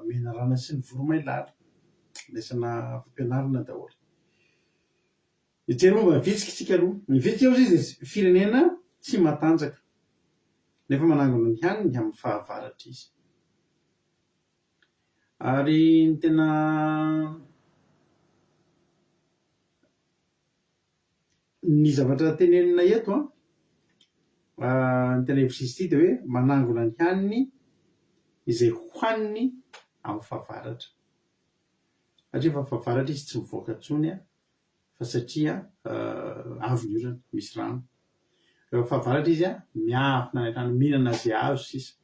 B: menarana sy ny voromailala. Lesona fampianarana daholo. Nijery momba ny vitsika isika aloha. Ny vitsika hoy izy dia firenena tsy matanjaka, nefa manangona ny haniny amin'ny fahavaratra izy. Ary ny tena ny zavatra tenenina eto an, ny tena hevi-diso ity dia hoe manangona ny haniny izay hohaniny amin'ny fahavaratra, satria efa fahavaratra izy tsy mivoaka intsony an. fa satria avo ny orana, misy rano. Rehefa fahavaratra izy miafina any an-trano mihinana izay azo sisa.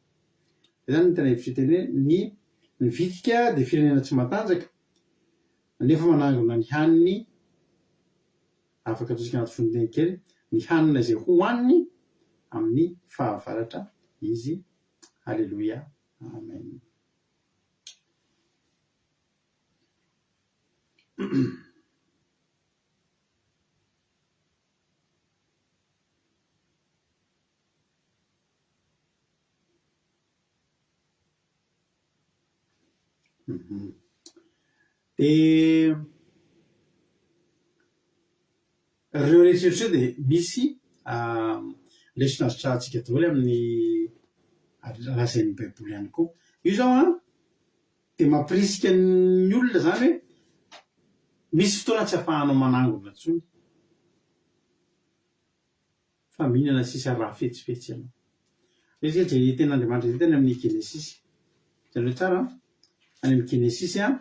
B: Izay izany no tena hevitro hiteny hoe ny ny vitika dia firenena tsy matanjaka nefa manangona ny haniny afaka atosika anaty fonony kely ny hanina izay hohaniny amin'ny fahavaratra izy. Aleloia. Amen. Dia ireo rehetra ireo dia misy lesona azo trahantsika daholo amin'ny lazain'ny Baiboly ihany koa. Io izao an, Dia mampirisika ny olona izany hoe misy fotoana tsy afahanao manangona intsony fa mihinana sisa ary mahafetsifetsy ianao. Izay izay izay eken'Andriamanitra izay tany amin'ny Genesisy. Hitanareo tsara an? Any amin'ny Genesisy an,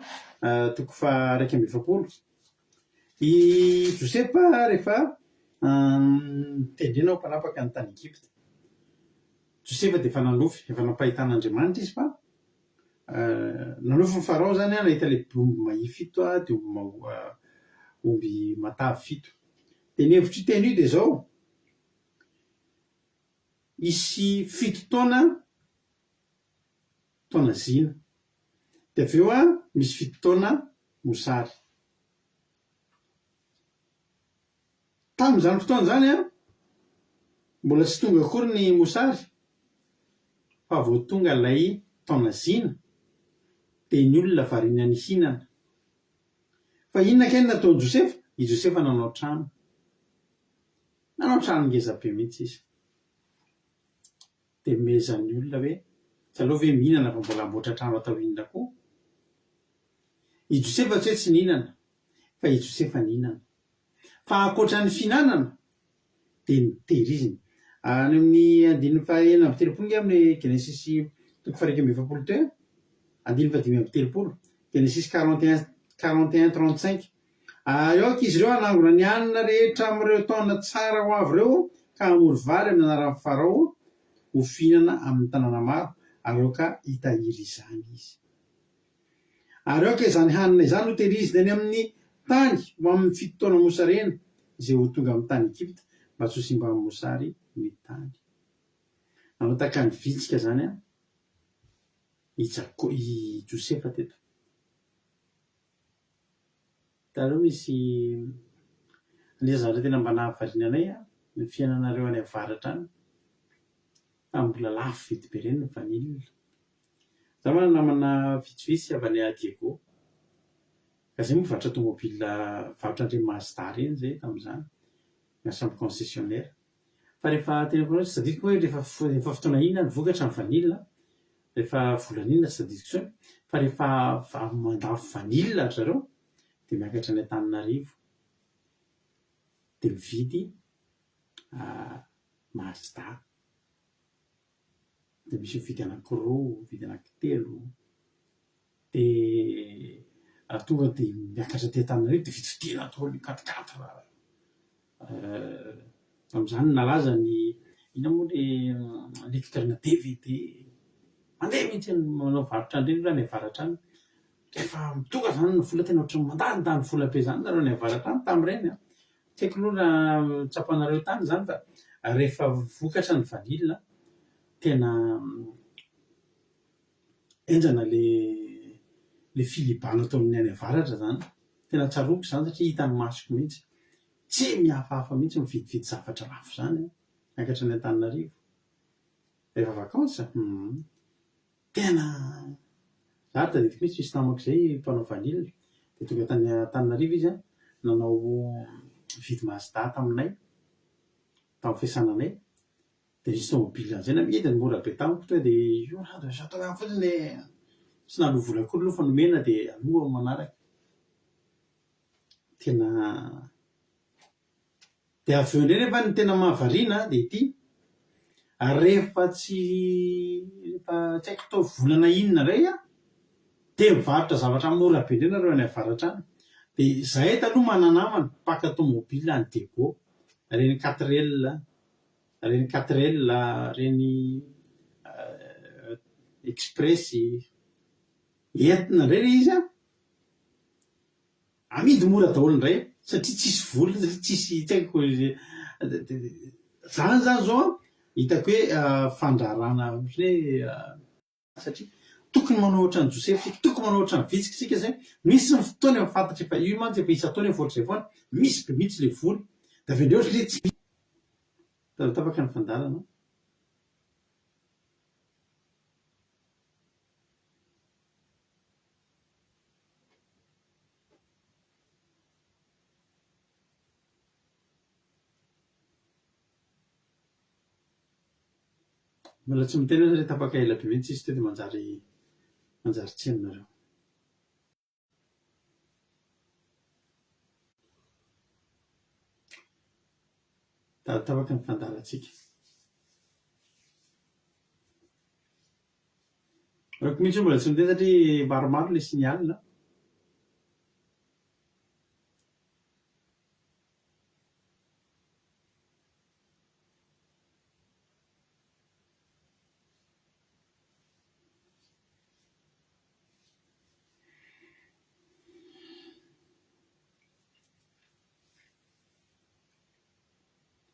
B: toko faha iraika amby efapolo. I Josefa rehefa notendrena ho mpanapaka ny tany Egypta. Josefa dia efa nanofy, efa nampahitan'Andriamanitra izy fa Nanofin'i Farao izany nahita ilay omby mahia fito dia omby mahoa omby matavy fito. Dia ny hevitr'io teny io dia izao, hisy fito taona, taona zina. Dia avy eo misy fito taona mosary. Tamin'izany fotoana izany, mbola tsy tonga akory ny mosary fa vao tonga ilay taona zina dia ny olona variana nihinana. Fa inona kay no nataon'i Josefa? I Josefa nanao trano. Nanao trano ngeza be mihitsy izy. Dia nomezan'ny olona hoe, tsy aleo ve mihinana fa mbola hamboatra trano atao inona koa? I Josefa tsy hoe tsy nihinana fa i Josefa nihinana. Fa ankoatra ny fihinanana dia notehiriziny. Any amin'ny andininy fahenina amby telopolo nge amin'ny Genesisy toko faha iraika amby efapolo teo e! andininy fahadimy amby telopolo, Genesisy quarante et un, quarante et un trente cinq, Ary aoka izy ireo hanangona ny hanina rehetra amin'ireo taona tsara ho avy ireo ka hamory vary amin'ny anaran'i Farao ho fihinana amin'ny tanàna maro, ary aoka hitahiry izany izy. Ary aoka izany hanina izany ho tehiriziny any amin'ny tany ho amin'ny fito taona mosarena, izay ho tonga amin'ny tany Egypta, mba tsy ho simban'ny mosary ny tany. Nanao tahaka ny vitsika izany i Jakô, i Josefa teto. Hitanareo misy anisan'ny zavatra tena mba nahavariana anay ny fiainanareo any avaratra any, tamin'ny mbola lafo vidy be ireny ny vanille. Za manana namana vitsivitsy avy any Diego, ka zay moa mivarotra tomobila mivarotra an'ireny Mazda ireny zay tamin'izany, na sambo concessionnaire, fa rehefa tena hoe tsy tadidiko hoe rehefa rehefa fotoana inona ny vokatra ny vanille an, rehefa volana inona tsy tadidiko intsony, fa rehefa avy mandafo vanille ry zareo dia miakatra any Antananarivo dia mividy Mazda. dia misy mividy anankiroa, mividy anankitelo, dia raha tonga dia miakatra aty Antananarivo dia vidividiana daholo ny quat quatre, tamin'izany nalaza ny inona moa ilay lecteur-na dvd, mandeha mihintsy ny manao varotra an'ireny raha any avaratra any, rehefa tonga izany ny vola tena ohatran'ny mandany vola be izany nareo any avaratra any tamin'ireny an! Tsy haiko aloha raha tsapanareo tany izany fa rehefa vokatra ny vanille tena henjana ilay filibana ato amin'ny any avaratra izany. Tena tsaroako izany satria hitan'ny masoko mihitsy. Tsy mihafahafa mihitsy mividividy zavatra lafo izany an! Miakatra any Antananarivo rehefa vacances. Humm. Tena! Za ary tadidiko mihitsy misy namako izay mpanao vanille dia tonga tany Antananarivo izy an, nanao nividy mazda taminay tamin'ny fiasana anay dia nisy tomobile an'izay namidy ny mora be tamiko tonga dia io rano dia sao tongava fotsiny dia tsy naloa vola akory aloha fa nomena dia aloa manaraka. Tena Dia avy eo indray nefa ny tena mahavariana dia ity, ary rehefa tsy rehefa tsy haiko tao volana inona indray aho dia mivarotra zavatra mora be indray nareo any avaratra any, dia izahay taloha mananamana mpaka tomobile any Diego, ireny quatrelle, ireny quatrelle, ireny express, entina indray ilay izy an, Amidy mora daholo indray satria tsisy vola satria tsisy tsy haiko zany zany zao an hitako hoe fandrarana ohatry ny hoe satria tokony manao ohatran'i Josefa isika tokony manao ohatran'i vitsika isika izay misy ny fotoana efa fantatra efa io mantsy efa isan-taona efa ohatr'izay foana misy be mihitsy ilay vola dia avy eo indray ohatry ny hoe tsy misy tara tapaka ny fandaharana Mbola tsy miteny aza re tapaka ela be mintsy izy teo de manjary manjary tsy eny nareo. Dada tapaka ny fandaharantsika. Reko mihitsy hoe mbola tsy miteny satria maromaro ilay signal a.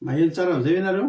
B: Maheno tsara an'izay ve nareo?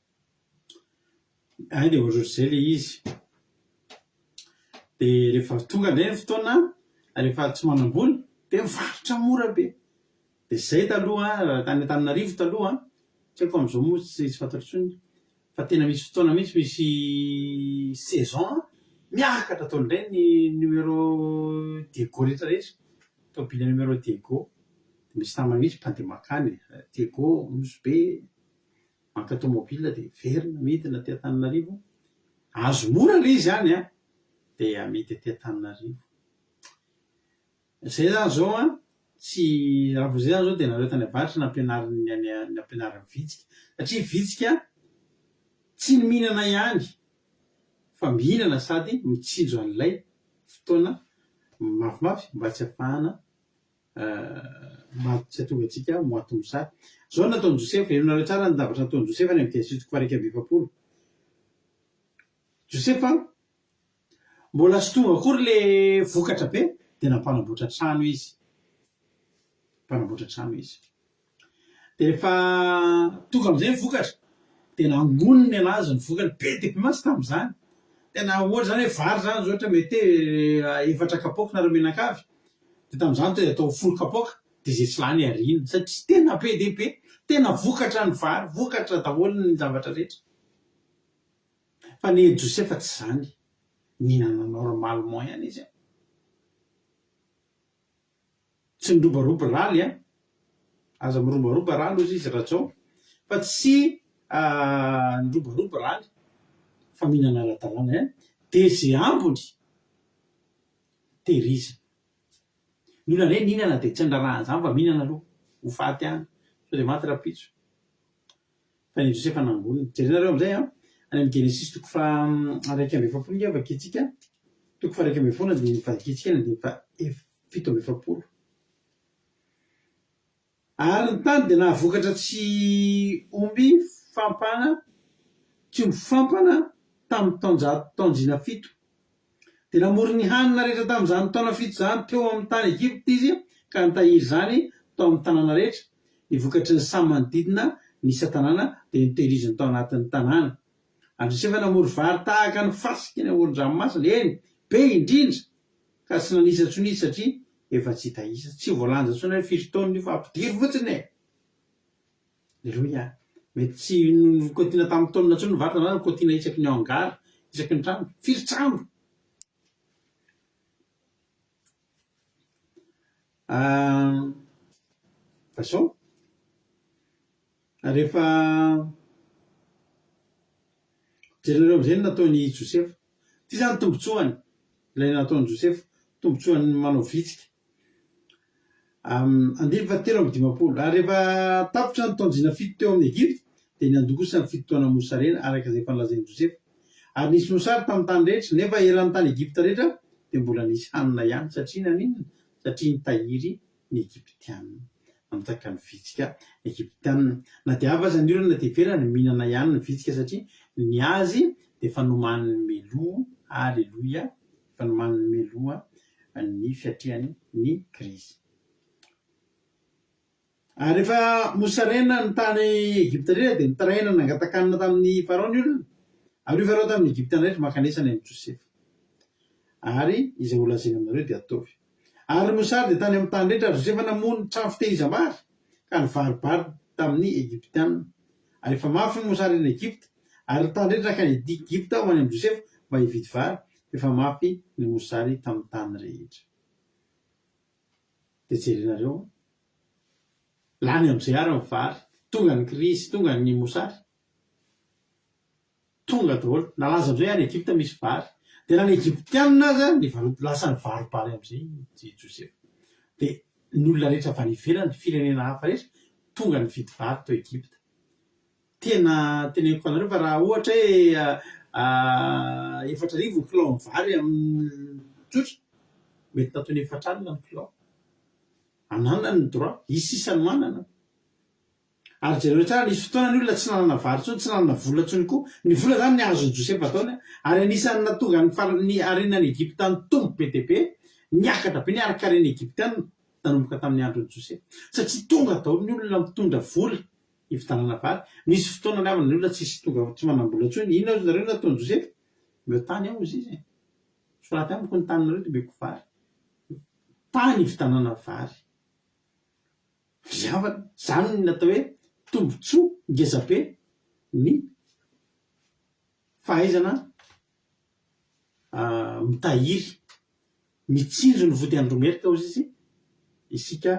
B: Hay dia ohatrohatr'izay ilay izy. Dia rehefa tonga indray ny fotoana rehefa tsy manam-bola dia mivarotra mora be. Dia izay taloha raha tany Antananarivo taloha an, tsy haiko fa amin'izao moa tsy fantatro intsony, fa tena misy fotoana mihitsy misy saison miakatra daholo indray ny numéro Diego rehetra rehetra, tômôbila numéro Diego. Misy namana mihitsy mpandeha mankany, Diego, Nosy Be. Maka tomobile dia miverina midina aty Antananarivo, azo mora ilay izy any an! dia amidy aty Antananarivo. Izay izany izao an, tsy, raha vao izay izany izao dia nareo tany avaratra nampianarin'ny any, nampianarin'ny vitsika. Satria vitsika tsy ny mihinana ihany fa mihinana sady mitsinjo an'ilay fotoana mafimafy mba tsy hafahana Maty tsy atonga antsika aho, moite moussa. Izao no nataon'i Josefa, henonareo tsara ny zavatra nataon'i Josefa any amin'ny dia sivy toko faha iraika amby efapolo. Josefa, mbola tsy tonga akory ilay vokatra be, dia nampanamboatra trano izy. Mpanamboatra trano izy. Dia rehefa tonga amin'izay ny vokatra dia nangoniny ny an'azy ny vokany, be dia be mantsy tamin'izany, tena ohatra izany hoe vary izany izao ohatra mete efatra kapoaka nareo mianakavy dia tamin'izany tonga dia atao folo kapoaka dia izay tsy lany ariana satria tena be dia be, tena vokatra ny vary, vokatra daholo ny zavatra rehetra, fa ny an'i Josefa tsy izany, nihinana normalement ihany izy an! Tsy niroborobo rally a! Aza miroboroba rally ozy izy Rajao fa tsy niroborobo rally fa mihinana ara-dalàna ihany dia ze ambiny tehirizina. Ny olona ndray mihinana dia tsy andrarahana izany fa mihinana aloha ho faty any sao dia maty rahampitso. Fa ny Josefa nangoniny. Jerenareo amin'izay an, any amin'ny Genesisy toko faha iraika amby efapolo ange vakintsika, toko faha iraika ambin'ny folo andininy vakintsika ny andininy faha fito amby efapolo. Ary ny tany dia nahavokatra tsy omby fampana, tsy omby fampana tamin'ny taonjato taonjina fito. Dia namory ny hanina rehetra tamin' izany taona fito izany teo amin' ny tany Egipta izy, ka nitahiry izany tao amin' ny tanàna rehetra. Ny vokatry ny samy manodidina ny isan-tanàna dia notehiriziny tao anatin' ny tanàna. Ary Josefa namory vary tahaka ny fasika eny amoron-dranomasina, eny, be indrindra, ka tsy nanisa intsony izy, satria efa tsy hita isa. Tsy voalanja intsony hoe firy taonina io, fa ampidiro fotsiny e! Leroy a! Mety tsy nikotiana tamin'ny taonina intsony ny vatana na nikotiana isaky ny hangar, isaky ny trano. Firy trano? Fa izao, rehefa jerinareo amin'izay ny nataon'i Josefa. Ity izany ny tombontsoany, ilay nataon'i Josefa, tombontsoan'ny manao vitsika. Andininy fahatelo amby dimampolo Ary rehefa tapitra ny taon-jina fito teo amin' ny Egypta, dia niandokosa ny fito taona mosarena, araka izay efa nolazain' i Josefa. Ary nisy mosary tamin' ny tany rehetra, nefa eran' ny tany Egypta rehetra dia mbola nisy hanina ihany, satria naninona? satria nitahiry ny Egyptiana, nanjaka ny vitsika Egyptiana, na dia avy aza ny orana dia everany mihinana ihany ny vitsika, satria ny azy dia efa nomanin' ny meloa, aleloia, fa ny manome loha ny fiatrehany ny krizy. Ary rehefa mosarena ny tany Egypta indrindra dia nitaraina nangatakanina tamin'i Farao ny olona. Ary io Farao tamin'i Egypta indray ry mankanesa any amin'i Josefa. Ary izay holazaina aminareo dia ataovy. Ary Mosa dia tany amin'ny tany rehetra ary Josefa namoha ny trano fitehiza-bary ka nivaribary tamin'ny Egyptiana. Ary efa mafy ny mosary eny Egypta, ary ny tany rehetra nankany Egypta ho any amin'i Josefa mba hividy vary, fa efa mafy ny mosary tamin'ny tany rehetra. Dia jerenareo an! Lany amin'izay àry ny vary, tonga ny krizy, tonga ny mosary. Tonga daholo. Nalaza amin'izay any Egypta misy vary. Dia na ny Egyptianina aza nivarob, lasa nivarobaly amin'izay i Josefa. Dia ny olona rehetra avy any ivelany, firenena hafa rehetra, tonga nividy vary tao Egypta. Tena teneniko anareo fa raha ohatra hoe efatra arivo ny kilao ny vary amin'ny tsotra, mety nataony efatra alina ny kilao. Ananany ny droit, hisy sisa no manana. Ary jereo tsara, nisy fotoana ny olona tsy nanana vary intsony, tsy nanana vola intsony koa. Ny vola izany ny azon'i Josefa atao ny, ary anisan'ny nahatonga ny faran'ny harenan'i Egypta nitombo be dia be, niakatra be ny harinkarena egyptiana nanomboka tamin'ny andron'i Josefa. Satria tonga daholo ny olona mitondra vola hividanana vary. Nisy fotoana ny havana ny olona tsisy tonga, tsy manam-bola intsony. Inona ozy nareo no nataon'i Josefa? Omeo tany aho ozy izy e. Soraty amiko ny taninareo dia omeko vary. Tany hividanana vary. fiavana, izany no atao hoe tombotsoa ngezabe ny fahaizana mitahiry, mitsinjo ny vody andromerika hozy izy isika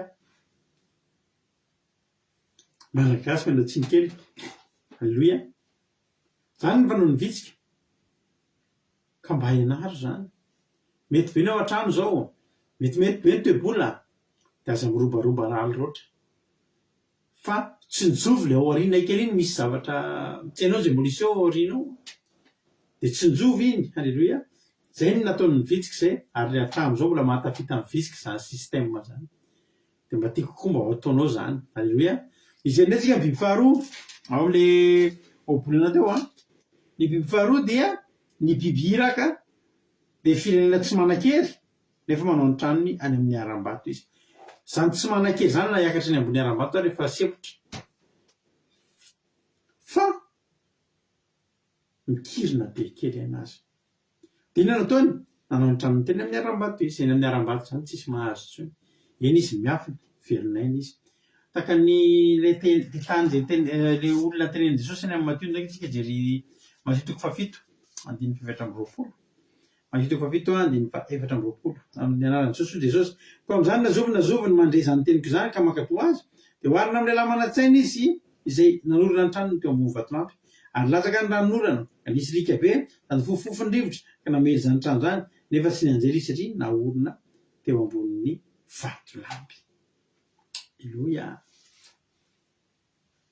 B: malagasy manao tsiny kely, aleloia. Zany ny fanaon'ny vitsika. Ka mba henaro zany. Mety be ny ao an-trano zao, metimety be ny toe-bola, de aza mirobaroba raly roatra. Fa tsinjovy le ao aoriana ekena iny misy zavatra tianao zay mbola hiseo ao aoriana ao. De tsinjovy iny. Haleloia. Zay ny nataon'ny vitsika zay ary hatramin'izao mbola mahatafita ny vitsika zany système zany. Dia mba tiako koa mba ho ataonao izany. Alléluia. Izay indray isika ny biby faharoa ao ilay ohabolana teo an. Ny biby faharoa dia ny biby iraka dia firenena tsy manan-kery nefa manao ny tranony any amin'ny harambato izy. Izany tsy manan-kery izany na hiakatra eny ambony harambato ary efa sempotra. Fa mikirina be kely anazy. Dia inona no ataony? Nanao ny tranony teny amin'ny harambato izy. Eny amin'ny harambato izany tsisy mahazo intsony. Eny izy miafina, velon'aina izy. Tahaka ny ilay teny, ilay tany izay teny, ilay olona tenenin'i Jesosy any amin'ny Matio, ingahy isika hijery Matio toko fahafito, andininy fefatra amby roapolo. Andritra fahafito andininy fahaefatra amby roapolo. Amin' ny anaran'i Jesoa, Jesosy. Koa amin' izany nazoviny nazoviny mandre izany teniko izany ka mankatò Azy, dia oharina amin' ilay lahy manan-tsaina izy izay nanorina ny tranony teo ambony vatolampy. Ary latsaka ny ranonorana, ka nisy lika be, sady fofofofo ny rivotra, ka namely izany trano izany, nefa tsy nianjera izy satria naorina teo ambonin'ny vatolampy. Aleloia.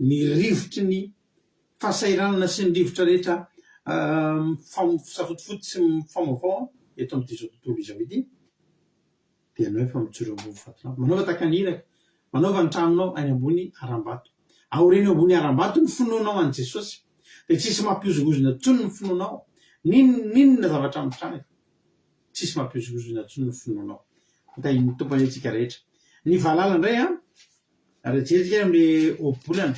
B: ny rivotry ny fahasahiranana sy ny rivotra rehetra mifamofosafotofoto sy mifamovaova eto amin'izao tontolo izao ity, dia ianao efa mijoro ambony fatinao, manaova tahaka ny iraka, manaova ny tranonao any ambony harambato, aoreno ambony harambato ny finoanao an'i Jesosy, dia tsy hisy mampihozongozona intsony ny finoanao, n'inona n'inona zavatra mitranga, tsy hisy mampihozongozona intsony ny finoanao, ho tahin'ny Tompo anie antsika rehetra. Ny valala indray an, Ary jery isika amin'ny ohabolana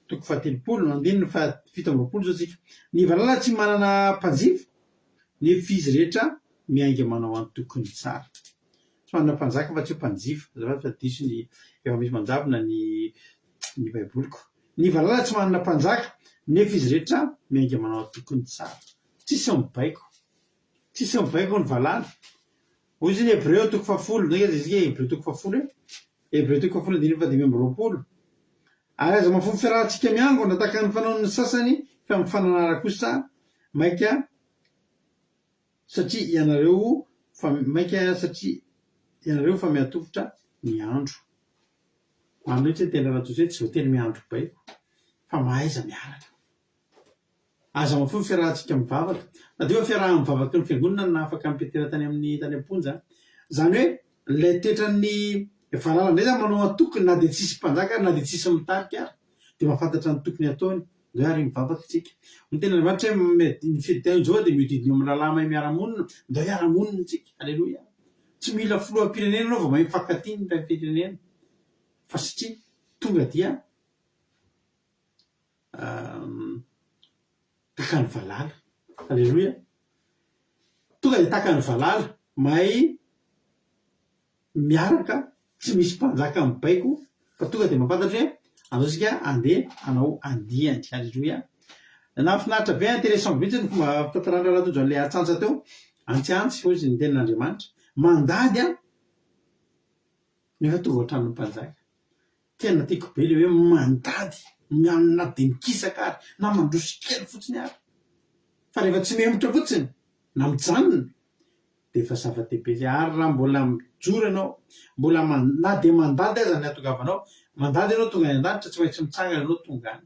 B: toko fahatelopolo andininy fahafito amby roapolo izao isika. Ny valala tsy manana mpanjifa, nefa izy rehetra miainga manao antokony tsara. Tsy manana mpanjaka afa-tsy hoe mpanjifa. Azafady fa diso ny efa misy manjavona ny ny Baiboliko. Ny valala tsy manana mpanjaka, nefa izy rehetra miainga manao antokony tsara. Tsisy mibaiko. Tsisy mibaiko ny valala. Hoy izy ny Hebreo toko fahafolo, ndray aza isika Hebreo toko fahafolo e! Hebreo toko fahafolo andininy fahadimy amby roapolo. Ary aza mahafoy ny fiarahantsika miangona tahaka ny fanaon'ny sasany fa amin'ny fananara kosa maika satria ianareo fa maika satria ianareo fa mihatovitra ny andro. Marina mihitsy ny teny Rajose, tsy voatery miandry baiko fa mahaiza miaraka. Aza mamafa ny fiarahantsika mivavaka. Madio ny fiaraha-mivavaky ny Fiangonana na afaka mitetera tany amin'ny tany am-ponja. Izany hoe, ilay toetran'ny valala indray izany manao antokony na dia tsisy mpanjaka ary na dia tsisy mitarika ary dia mahafantatra ny tokony hataony. Hoe ary mivavaka isika. Hoy ny Tenin'Andriamanitra hoe, Ny fidintahin'i Jehovah dia mihodidina eo amin'ny rahalahy mahay miara-monina. Ndao hiara-monina isika. Haleloia. Tsy mila filoham-pirenena ianao vao mahay mifankatia ny mpiray firenena. Fa satria tonga dia. taka ny valala. Aleloia! Tonga dia taka ny valala, mahay miaraka, tsy misy mpanjaka mibaiko fa tonga dia mampantatra hoe andao isika andeha hanao andiany. Aleloia! Nahafinaritra be, intéressant mihitsy ny fomba fitantaran'i Ralatojo an'ilay atsantsa teo. Antsiantsy, hoy izy, ny tenin'Andriamanitra. Mandady an! Nefa tonga ohatran'ny mpanjaka. Tena tiako be le hoe mandady, mihaona na dia mikisaka ary, na mandroso kely fotsiny ary. Fa rehefa tsy mihemotra fotsiny, na mijanona, dia efa zava-dehibe izay. Ary raha mbola mijoro ianao, mbola man, na dia mandady aza ny hatongavanao, mandady ianao tonga any an-danitra, tsy maintsy mitsangana ianao tonga any.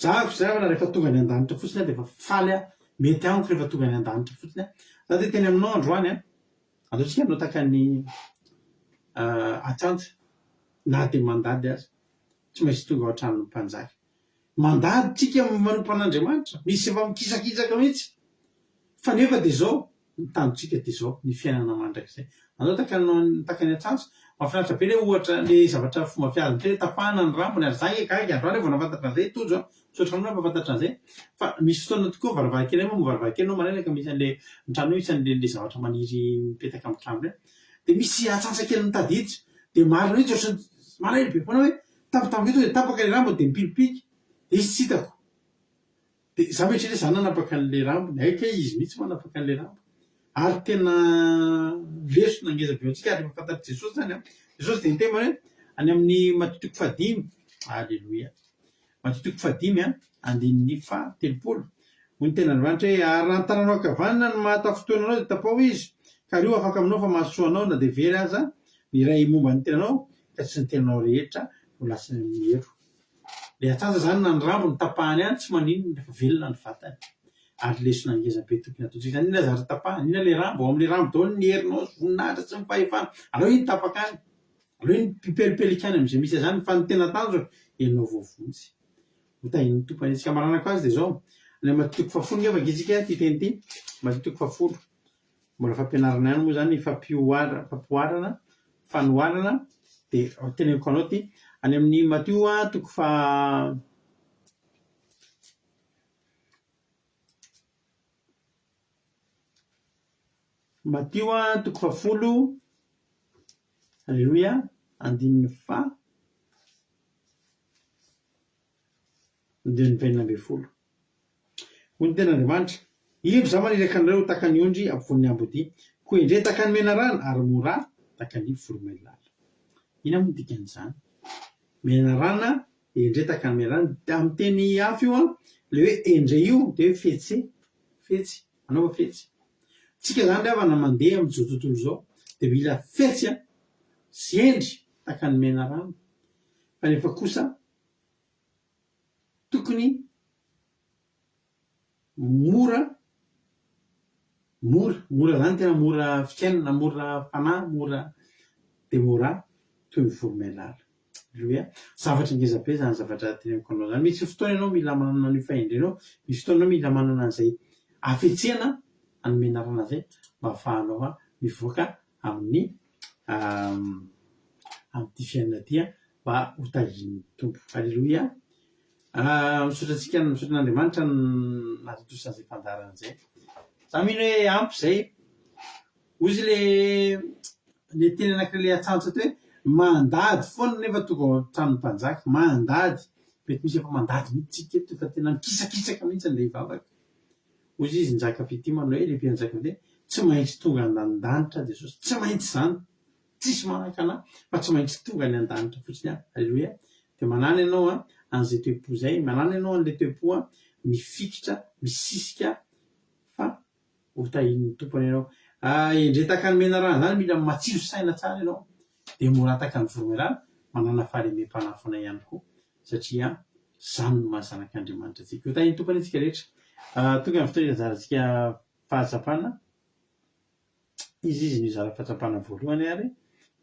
B: Za avy izay aho rehefa tonga any andanitra fotsiny aho dia efa faly aho, mety amiko rehefa tonga any andanitra fotsiny aho. Za dia teny aminao androany an! Aleontsika hanotaka ny atsantsa na dia mandady aza, tsy maintsy tonga ao an-tranon'ny mpanjaka. Mandady tsika manompo an'Andriamanitra, misy efa mikisakisaka mihitsy. Fa nefa dia izao ny tanjontsika dia izao ny fiainana mandrakizay. Anao takano ny takany an-trantsa. Mahafinaritra be ilay ohatra ilay zavatra fomba fiady indray hoe tapahana ny rambony ary za nge gaga androany aho vao nahafantatra an'izay Tojo a! Misaotra anao nampahafantatra an'izay. Fa misy fotoana tokoa varavarankely moa varavarankely anao maraina ka misy an'ilay ny trano misy an'ilay zavatra maniry mipetaka amin'ny trano ireny dia misy antsantsakely mitady hiditra dia marina mihitsy ohatran'ny maraina be foana hoe tampotampoka eto dia tapaka ilay rambony dia mipilipilika dia izy tsy hitako Dia za mieritreritra hoe za nanapaka an'ilay rambony, hay kay izy mihitsy manapaka an'ilay rambony. Ary tena lesona ngeza avy eo antsika ary efa fantatr'i Jesosy izany an. Jesosy dia niteny hoe any amin'ny Matio toko fahadimy, aleloia, Matio toko fahadimy an, andininy faha telopolo, hoy ny tenin'Andriamanitra hoe ary raha ny tananao ankavanana no mahatafintohina anao dia tapaho izy, ka ary io afaka aminao fa mahasoa anao na dia very aza ny iray momba ny tenanao, ka tsy ny tenanao rehetra no lasa miero. Ilay atsantsa izany na ny rambony tapahany any tsy maninona rehefa velona ny vatany. Ary lesona ngeza be tokony ataontsika izany, inona aza ary tapahany, inona ilay rambo, ao amin'ilay rambo daholo ny herinao sy voninahitra sy ny fahefana, aleo iny tapaka any, aleo iny pipelipelika any amin'izay misy azy any fa ny tena tanjona ianao vao vonjy. Ho tahin'ny Tompo any. Ny hamaranako azy dia izao, Ilay Matio toko fahafolo nge vakitsika ity teny ity, Matio toko fahafolo, Mbola fampianarana ihany moa izany ny fampihoarana, fanoharana, dia teneniko anao ity, any amin'ny Matio toko faha Matio toko fahafolo, aleloia, andininy faha. Andininy faheninan' ambin'ny folo. Hoy ny Tenin' Andriamanitra, Indro Izaho maniraka anareo ho tahaka ny ondry ampovoan' ny amboadia, koa endrey tahaka ny menarana, ary mora tahaka ny voromailala. Inona moa ny dikan' izany? Menarana, endrey tahaka ny menarana. Amin'ny teny hafa io, ilay hoe endrey io dia hoe fetse, fetsy, anaova fetsy. Isika izany ry havana mandeha amin' izao tontolo izao dia mila fetsy sy endry tahaka ny menarana, kanefa kosa tokony mora mora mora zany tena mora fiainana mora fanahy mora de mora toy ny voromailala alléluia zavatra ngeza be zany zavatra teneniko anao zany misy fotoana ianao mila manana an'io fahendrenao misy fotoana ianao mila manana an'izay hafetsena hanome anarana an'izay mba hahafahanao mivoaka amin'ny amin'ity fiainana ity an, mba ho tahian'ny Tompo. Aleloia. Misaotra antsika, misaotra an'Andriamanitra nahatontosa an'izay fandaharana izay. Za mino hoe ampy izay. Hoy izy le le teny anankiray le atsantsa hoe mandady foana nefa tonga ao an-tranon'ny mpanjaka, mandady. Mety misy efa mandady mihitsy tsika eto fa tena mikisakisaka mihitsy ilay vavaka. Hoy izy, Njaka fitia manao hoe, Ry Mpianjaika fitia, tsy maintsy tonga any an-danitra aho Jesosy. Tsy maintsy izany. Tsisy manahaka anah fa tsy maintsy tonga any an-danitra fotsiny aho. Aleloia. Dia manana ianao an, an'izay toe-po izay. Manana ianao an'ilay toe-po an, mifikitra, misisika fa ho tahian'ny Tompo anao ianao. Endrey tahaka ny menarana izany, mila matsilo saina tsara ianao Dia mora hataka ny voromailala, manana fahalemem-panafona ihany koa, satria izany no maha zanak' Andriamanitra antsika. Ho tahin'ny Tompo anie isika rehetra. Tonga ny fotoana hizarantsika fahatsapana. Iza izy no hizara fahatsapana voalohany ary?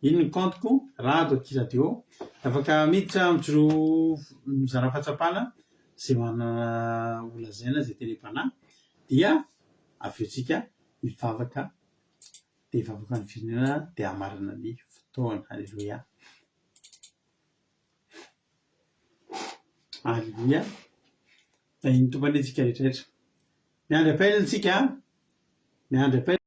B: Iny ny compte-ko, Rado aty radio. Afaka miditra mijoroa mizara fahatsapana izay manana holazaina, izay tele-panahy, dia avy eo tsika hivavaka Dia vahoaka ny firenena dia hamarana ny fotoana. Aleloia. Aleloia. Tahian'ny Tompo antsika rehetra rehetra. Miandry appel tsika an. Miandry appel.